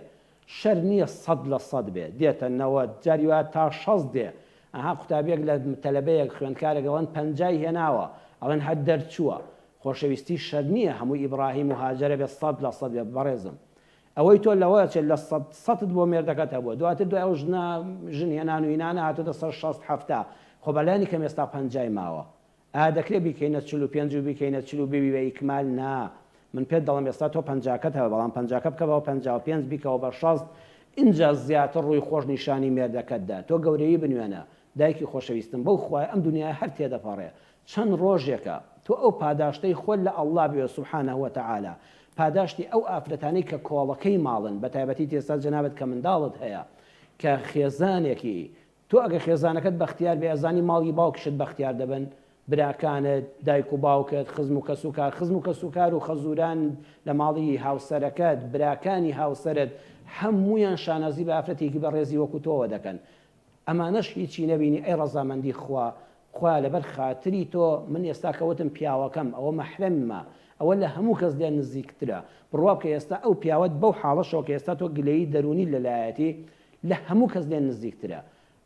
شەر نییە سەد لە سەد بێ، دێتە نەوەد، جاری وایە تا شەست دێ. ئەها قوتابییەک لە تەلەبەیەک، خوێندکارێک ئەڵێن پەنجای هێناوە، ئەڵێن هەر دەرچووە. خۆشەویستی شەرت نیە هەمووی ئیبڕاهیم و هاجەرە بێت سەد لە سەد بێت بەڕێزم ئەوەی تۆ لەوە چێت لە سەد سەتت بۆ مێردەکەت هەبووە دواتر دوای ئەو ژنە ژن هێنان و هینانە هاتۆتە سەر شەست حەفتا خۆ بە لانی کەم ئێستا پەنجای ماوە ئایا دەکرێت بیکەینە چل و پێنج و بیکەینە چل و ببی بە ئیکمال نا من پێت دەڵێم ئێستا تۆ پەنجاکەت هەبوو بەڵام پەنجاکە بکە بە پەنجا و پێنج بیکەوە بە شەست ئینجا زیاتر ڕووی خۆش نیشانی مێردەکەت دە تۆ گەورەیی بنوێنە دایکی خۆشەویستم بەو خوایە ئەم دونیایە هەر تێدەپەڕێ چەند ڕۆژێکە تۆ ئەو پاداشتەی خۆت لە اللە بوێ سبحانە وتعالی پاداشتی ئەو ئافرەتانەی کە کۆڵەکەی ماڵن بەتایبەتی تێستا جەنابت کە منداڵت هەیە کە خێزانێکی تۆ ئەگەر خێزانەکەت بەختیار بێ ئەزانی ماڵی باوکشت بەختیار دەبن براکانت دایک و باوکت خزم و کەسوکار خزم و کەسوکار و خەزوران لە ماڵی هاوسەرەکەت براکانی هاوسەرت هەموویان شانازی بە ئافرەتێکی بەڕێزی وەکو تۆوە دەکەن ئەمانەش هیچی نەبینی ئەی ڕەزامەندی خوا خوایە لەبەر خاتری تۆ من ئێستا کە وتم پیاوەکەم ئەوە مەحرەممە ئەوە لە هەموو کەس لێ نزیکترە بڕوا بکە ئێستا ئەو پیاوەت بەو حاڵەشەوە کە ئێستا تۆ گلەیی دەروونیت لەلایەتی لە هەموو کەس لێ نزیکترە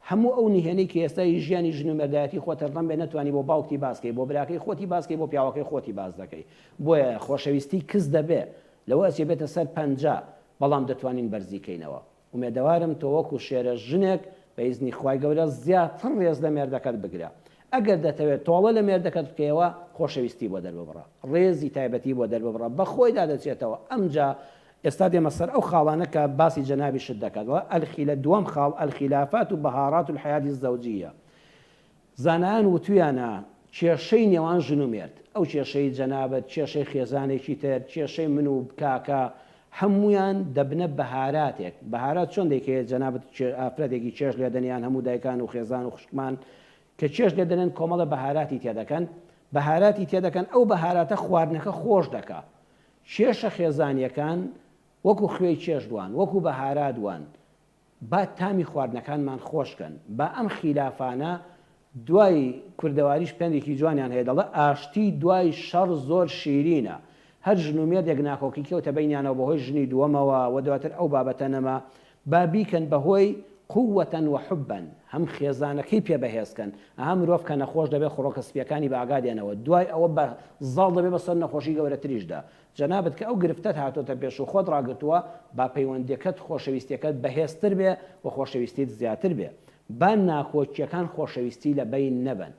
هەموو ئەو نهێنی کە ئێستا هی ژیانی ژن و مێردایەتی خۆ تەرخەم بێ نەتوانی بۆ باوکتی باس کەی بۆ براکەی خۆتی باس کەی بۆ پیاوەکەی خۆتی باس دەکەی بۆیە خۆشەویستی کز دەبێ لەوە ئەچێ بێتە سەر پەنجا بەڵام دەتوانین بەرزی کەینەوە. ئومێدەوارم تۆ وەکو شێرە ژنێک بە ئیزنی خوای گەورە زیاتر ڕێز لە مێردەکەت بگرە ئەگەر دەتەوێت تۆڵە لە مێردەکەت بکەیەوە خۆشەویستی بۆ دەرببڕە ڕێزی تایبەتی بۆ دەرببڕە بە خۆیدا دەچێتەوە ئەمجا ئێستا دێمە سەر ئەو خاڵانە کە باسی جەنابیشت دەکات وە الخیلە دووەم خاڵ الخیلافات و بەهاڕات الحیات الزەوجیە زانایان وتویانە کێشەی نێوان ژن و مێرد، ئەو کێشەی جەنابت، کێشەی خێزانێکی تر، کێشەی من و کاکە، هەموویان دەبنە بەهاراتێک، بەهارات چۆن دەیکەیە جەنابت ئافرەتێکی چێژ لێدەن یان هەموو دایکان و خێزان و خوشکمان کە چێژ لێدەنێن کۆمەڵە بەهاراتی تێدەکەن، بەهاراتی تێدەکەن ئەو بەهاراتە خواردنەکە خۆش دەکا. کێشە خێزانیەکان وەکو خوێی چێژ وان، وەکو بەهارات وان، با تامی خواردنەکانمان خۆش کەن با ئەم خیلافانە دوای کوردەواریش پەندێکی جوانیان هەیە دەڵێ ئاشتی دوای شەڕ زۆر شیرینە هەر ژن و مێردێک ناکۆکی کەوتە بەینیانەوە بەهۆی ژنی دووەمەوە وە دواتر ئەو بابەتە نەما با بیکەن بەهۆی قووە و حوبا هەم خێزانەکەی پێ بەهێز کەن ئەها مرۆڤ کە نەخۆش دەبێت خڕۆکە سپیەکانی بە ئاگا دێنەوە دوای ئەوە بە زاڵ دەبێت بەسەر نەخۆشی گەورەتریشدا جەنابت کە ئەو گرفتەت هاتۆتە پێش و خۆت ڕاگرتووە، با پەیوەندیەکەت خۆشەویستیەکەت بەهێزتر بێ و خۆشەویستیت زیاتر بێ. با ناکۆکیەکان خۆشەویستی لە بەین نەبەن.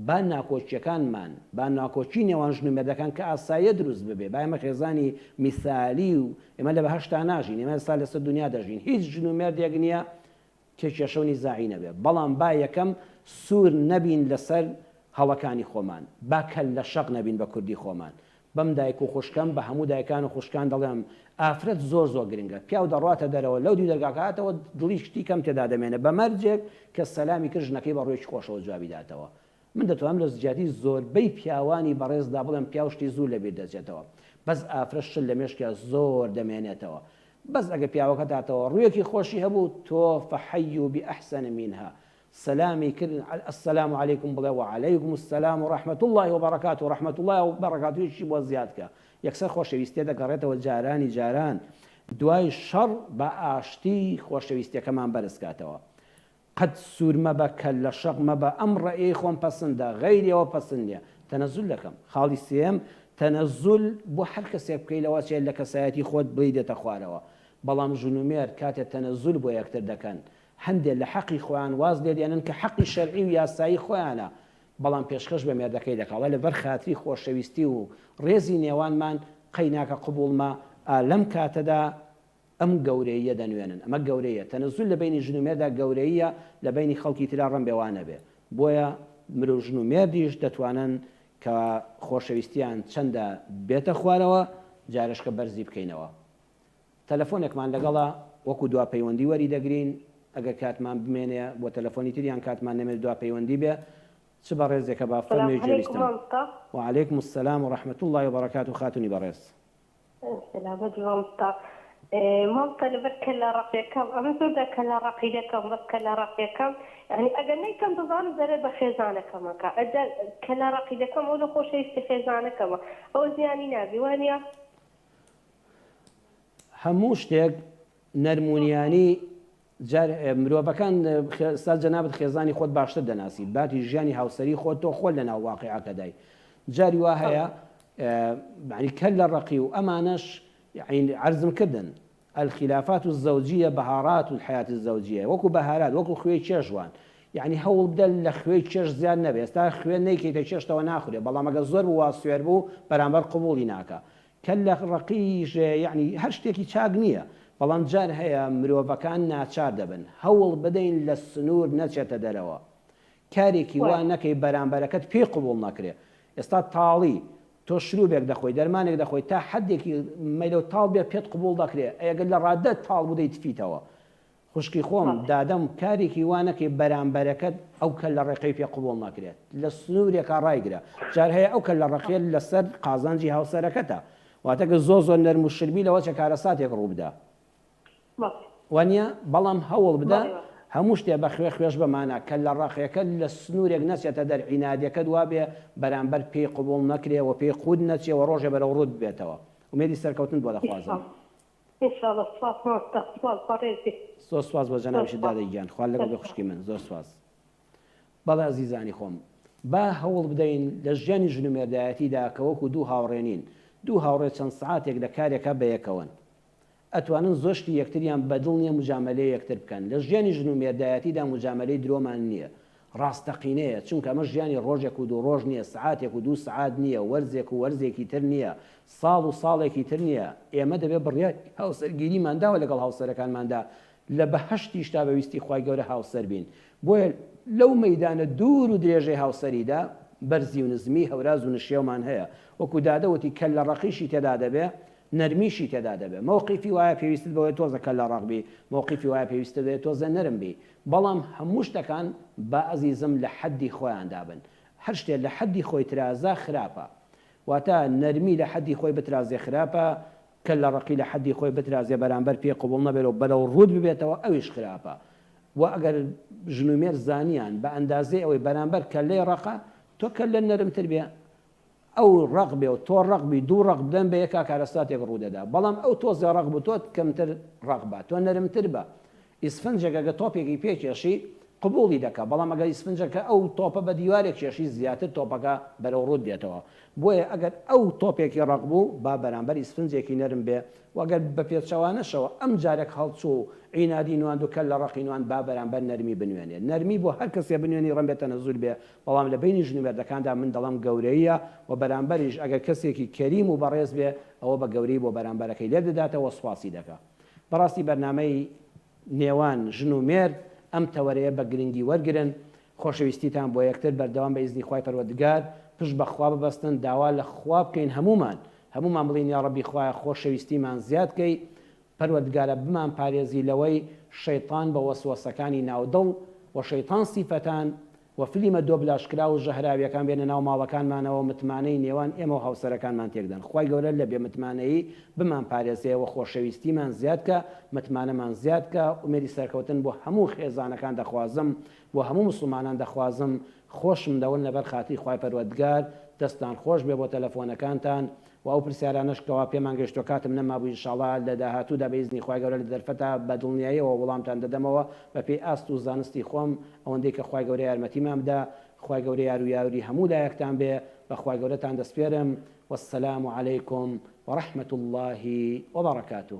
با ناکۆکیەکانمان، با ناکۆکی نێوان ژن و مێردەکان کە ئاساییە دروست ببێ. با ئێمە خێزانی میسالی و ئێمە لە بەهەشتا ناژین. ئێمە ئێستا لەسەر دونیا دەژین. هیچ ژن و مێردێک نیە کێ کێشەو نیزاعی نەبێ بەڵام با یەکەم سور نەبین لەسەر هەڵەکانی خۆمان با کەللە شەق نەبین بە کوردی خۆمان بەم دایک و خوشکەم بە هەموو دایکان و خوشکان دەڵێم ئافرەت زۆر زۆر گرنگە پیاو دەڕواتە دەرەوە لەو دیو دەرگاکە هاتەوە دڵی شتی کەم تێدا دەمێنێ بە مەرجێک کە سەلامی کرد ژنەکەی بە ڕوێکی خۆشەوە جوابی داتەوە من دەتوانم لە جیاتی زۆربەی پیاوانی بەڕێزدا بڵێم پیاو شتی زوو لە بیر دەچێتەوە بەس ئافرەت شت لە مێشکیا زۆر دەمێنێتەوە بەس ئەگە پیاوەکەت هاتەوە ڕوویەکی خۆشی هەبوو تۆ فحیو بأحسن منها سەلامی کرد السلام علیکم بڵێ وعلیکم السلام و رحمت الله و بەڕکات و رحمت الله و بەڕکاتویشی بۆ زیادکە یەکسەر خۆشەویستێ دەگەڕێتەوە جارانی جاران دوای شەڕ بە ئاشتی خۆشەویستەکەمان بەرزکاتەوە قەت سوور مەبە کەل لە شەق مەبە ئەم ڕەئیەی خۆم پەسندە غەیری ئەوە پەسند نیە تەنەزول دەکەم خاڵی سێیەم تەنەزول بۆ هەر کەسێک بکەی لەوە چیە لە کەسایەتی خۆت بریدەتە خوارەوە بەڵام ژن و مێرد کاتێ تەنەزول بۆ یەکتر دەکەن هەندێ لە حەقی خۆیان واز لێ دێنن کە حەقی شەرعی و یاسایی خۆیانە بەڵام پێشکەش بە مێردەکەی دەکا وە لەبەر خاتری خۆشەویستی و ڕێزی نێوانمان قەیناکە قبوڵمە ئا لەم کاتەدا ئەم گەورەییە دەنوێنن ئەمە گەورەییە تەنەزول لە بەینی ژن و مێردا گەورەییە لە بەینی خەڵکی ترا ڕەنبێ وا نەبێ بۆیە مرو ژن و مێردیش دەتوانن کە خۆشەویستیان چەندە بێتە خوارەوە جارێشکە بەرزی بکەینەوە تەلەفۆنێکمان لەگەڵە وەکو دوا پەیوەندی وەری دەگرین ئەگەر کاتمان بمێنێ بۆ تەلەفۆنی تر یان کاتمان نەمێنێ دوا پەیوەندی بێ چ بەڕێزێکە با فەرمی جێویستم. وعلیکم السلام ورحمة اللە وبرکاته خاتونی بەڕێز. سەلامەت مامۆستا مامۆستا لەبەر کەللە ڕەقیەکەم ئەمن زۆر جار کەللە ڕەقی دەکەم بەس کەللە ڕەقیەکەم یانی ئەگەر نەیکەم دەزانم زەرەر بە خێزانەکەم ئەکا ئەجا کەللە ڕەقی دەکەم ئەو لە خۆشەویستی خێزانەکەمە ئەوە زیانی نابی وانە هەموو شتێک نەرمونیانی جار مرۆڤەکان ستا جەنابت خێزانی خۆت باشتر دەناسی باتی ژیانی هاوسەری خۆت تۆ خۆل لەناو واقعەکەدای جاری وا هەیە معنی کەل لە ڕقی و ئەمانەش عرزم کردن الخلافات الزوجية بهارات الحياة الزوجية وەکو بەهارات وەکو خوێی چێژوان یعنی هەوڵ بدە لە خوێی چێش زیاد نەبێت تا خوێن نەیکەیتە چێشتەوە ناخورێ بەڵام ئەگە زۆر بوو سوێر بوو بەرامبەر قوبولی ناکە کەللە ڕەقی ژە یەعنی هەر شتێکی چاک نیە بەڵام جار هەیە مرۆڤەکان ناچار دەبن هەوڵ بدەین لە سنور نەچێتە دەرەوە کارێکی وا نەکەی بەرامبەرەکەت پێی قبوڵ نەکرێ ئێستا تاڵی تۆ شروبێک دەخۆی دەرمانێک دەخۆی تا حەدێکی مەیلەو تاڵ بێ پێت قبوڵ دەکرێ ئەگەر لە ڕادە تاڵ بوو دەیتفیتەوە خوشکی خۆم دادەم کارێکی وا نەکەی بەرامبەرەکەت ئەو کەللە ڕێقەی پێ قبوڵ ناکرێت لە سنورێکا ڕایگرە جار هەیە ئەو کەللە ڕەقیەت لەسەر قازانجی هاوسەرەکەتە واتە گەر زۆر زۆر نەرم و شربی لەوە چە کارەساتێک ڕووبدا وانیە بەڵام هەوڵ بدە هەموو شتێ بە خوێ خوێش بە مانا کەللە ڕەقیەکەت لە سنورێک نەچێتە دەر عینادەکەت وابێ بەرامبەر پێی قبوڵ نەکرێ وە پێی قووت نەچێ وە ڕۆژێ بەرەو ڕووت بێتەوە ئومێدی سەرکەوتنت بۆ دەخوازم. ان شاء اللە سپاس مامۆستا سپاس بەڕێز بێ. زۆر سپاس بۆ زۆر جەنابیشت سپاس دادە گیان خوا لەگەڵ زۆر بێ سپاس. خوشکی من زۆر سپاس بەڵێ ئەزیزانی خۆم با هەوڵ بدەین لە ژیانی ژن و مێردایەتیدا کە وەکو دوو هاوڕێ نین دوو هاوڕێ چەند سەعاتێک لە کارێکا بەیەکەوەن ئەتوانن زۆر شتی یەکتریان بەدڵ نیە موجامەلەی یەکتر بکەن لە ژیانی ژن و مێردایەتیدا موجامەلەی درۆمان نیە ڕاستەقینەیە، چونکە ئەمە ژیانی ڕۆژێک و دوو ڕۆژ نییە، سەعاتێک و دوو سەعات نییە، وەرزێک و وەرزێکی تر نییە، ساڵ و ساڵێکی تر نییە، ئێمە دەبێت بڕیاری هاوسەرگیریمان داوە لەگەڵ هاوسەرەکانماندا، لە بەهەشتیشدا بە ویستی خوای گەورە هاوسەر بین، بۆیە لەو مەیدانە دوور و درێژەی هاوسەریدا بەرزی و نزمی، هەوراز و نشێومان هەیە، وەکو دادە وتی کەللە ڕەقیشی تێدا دەبێ نەرمیشی تێدا دەبێ، مەوقیفی وایە پێویستت بەوەیە تۆزە کەللە ڕەق بی، مەوقیفی وایە پێویستت بەوەیە تۆزێ نەرم بی، بەڵام هەموو شتەکان با ئەزیزم لە حەددی خۆیاندا بن. هەر شتێ لە حەددی خۆی ترازا خراپە. واتە نەرمی لە حەددی خۆی بترازێ خراپە، کەللە ڕەقی لە حەددی خۆی بترازێ بەرامبەر پێی قبوڵ نەبێت و بەرەو ڕووت ببێتەوە ئەویش خراپە. وە ئەگەر ژن و مێرد زانیان بە ئەندازەی ئەوەی بەرامبەر کەللەی ڕەقە تۆ کەللە نەرمتر بێ ئەو ڕەق بێ و تۆ ڕەق بی دوو ڕەق بدەن بە یەکا کارەساتێک ڕوو دەدا بەڵام ئەو تۆزێ ڕەق بوو تۆ کەمتر ڕەق بە تۆ نەرمتر بە ئیسفنجێک ئەگەر تۆپێکی پێ کێشی قبوڵی دەکا بەڵام ئەگەر ئیسفنجەکە ئەو تۆپە بە دیوارێک کێشی زیاتر تۆپەکە بەرەو ڕووت دێتەوە بۆیە ئەگەر ئەو تۆپێکی ڕەق بوو با بەرامبەر ئیسفنجێکی نەرم بێ و ئەگەر بە پێچەوانەشەوە ئەم جارێک هەڵچوو و عینادی نواند و کەل لە ڕەقی نواند با بەرامبەر نەرمی بنوێنێ نەرمی بۆ هەر کەسێ بنوێنی ڕەنبێ تەنەزول بێ بەڵام لە بەینی ژن و مێردەکاندا من دەڵێم گەورەییە و بەرامبەریش ئەگەر کەسێکی کەریم و بەڕێز بێ ئەوە بە گەورەی بۆ بەرامبەرەکەی لێک دەداتەوە و سوپاسی دەکا. بەڕاستی بەرنامەی نێوان ژن و مێرد ئەم تەوەرەیە بە گرنگی وەرگرن، خۆشەویستیتان بۆ یەکتر بەردەوام بە ئیزنی خوای پەروەردگار، پشت بە خوا ببەستن، داوا لە خوا بکەین هەموومان، هەموومان بڵێین یاڕەبی خوایە خۆشەویستیمان زیاد کەی، پەروەردگارە بمان پارێزی لەوەی شەیتان بە وەسوەسەکانی ناو دڵ و شەیتان سیفەتان و فلیمە دۆبلاژ کراو و ژەهراویەکان بێنە ناو ماڵەکانمانەوە و متمانەی نێوان ئێمە و هاوسەرەکانمان تێکدەن خوای گەورە لە بێ متمانەیی بمان پارێزێ وە خۆشەویستیمان زیاد کا متمانەمان زیاد کا ئومێدی سەرکەوتن بۆ هەموو خێزانەکان دەخوازم بۆ هەموو مسوڵمانان دەخوازم خۆشم دەون لەبەر خاتری خوای پەروەردگار دەستان خۆش بێ بۆ تەلەفۆنەکانتان وە ئەو پرسیارانەش کەوا پێمان گەشتوە کاتم نەمابوو انشاڵا لە داهاتوودا بە ئیزنی خوای گەورە لە دەرفەتا بە دڵنیایەوە وڵامتان دەدەمەوە بە پێی ئاست و زانستی خۆم ئەوەندەی کە خوای گەورە یارمەتیمان بدا خوای گەورە یارو یاوری هەموو لایەکتان بێ بە خوای گەورەتان دەسپێرم والسلام علیکم ورحمة اللە وبرکاته.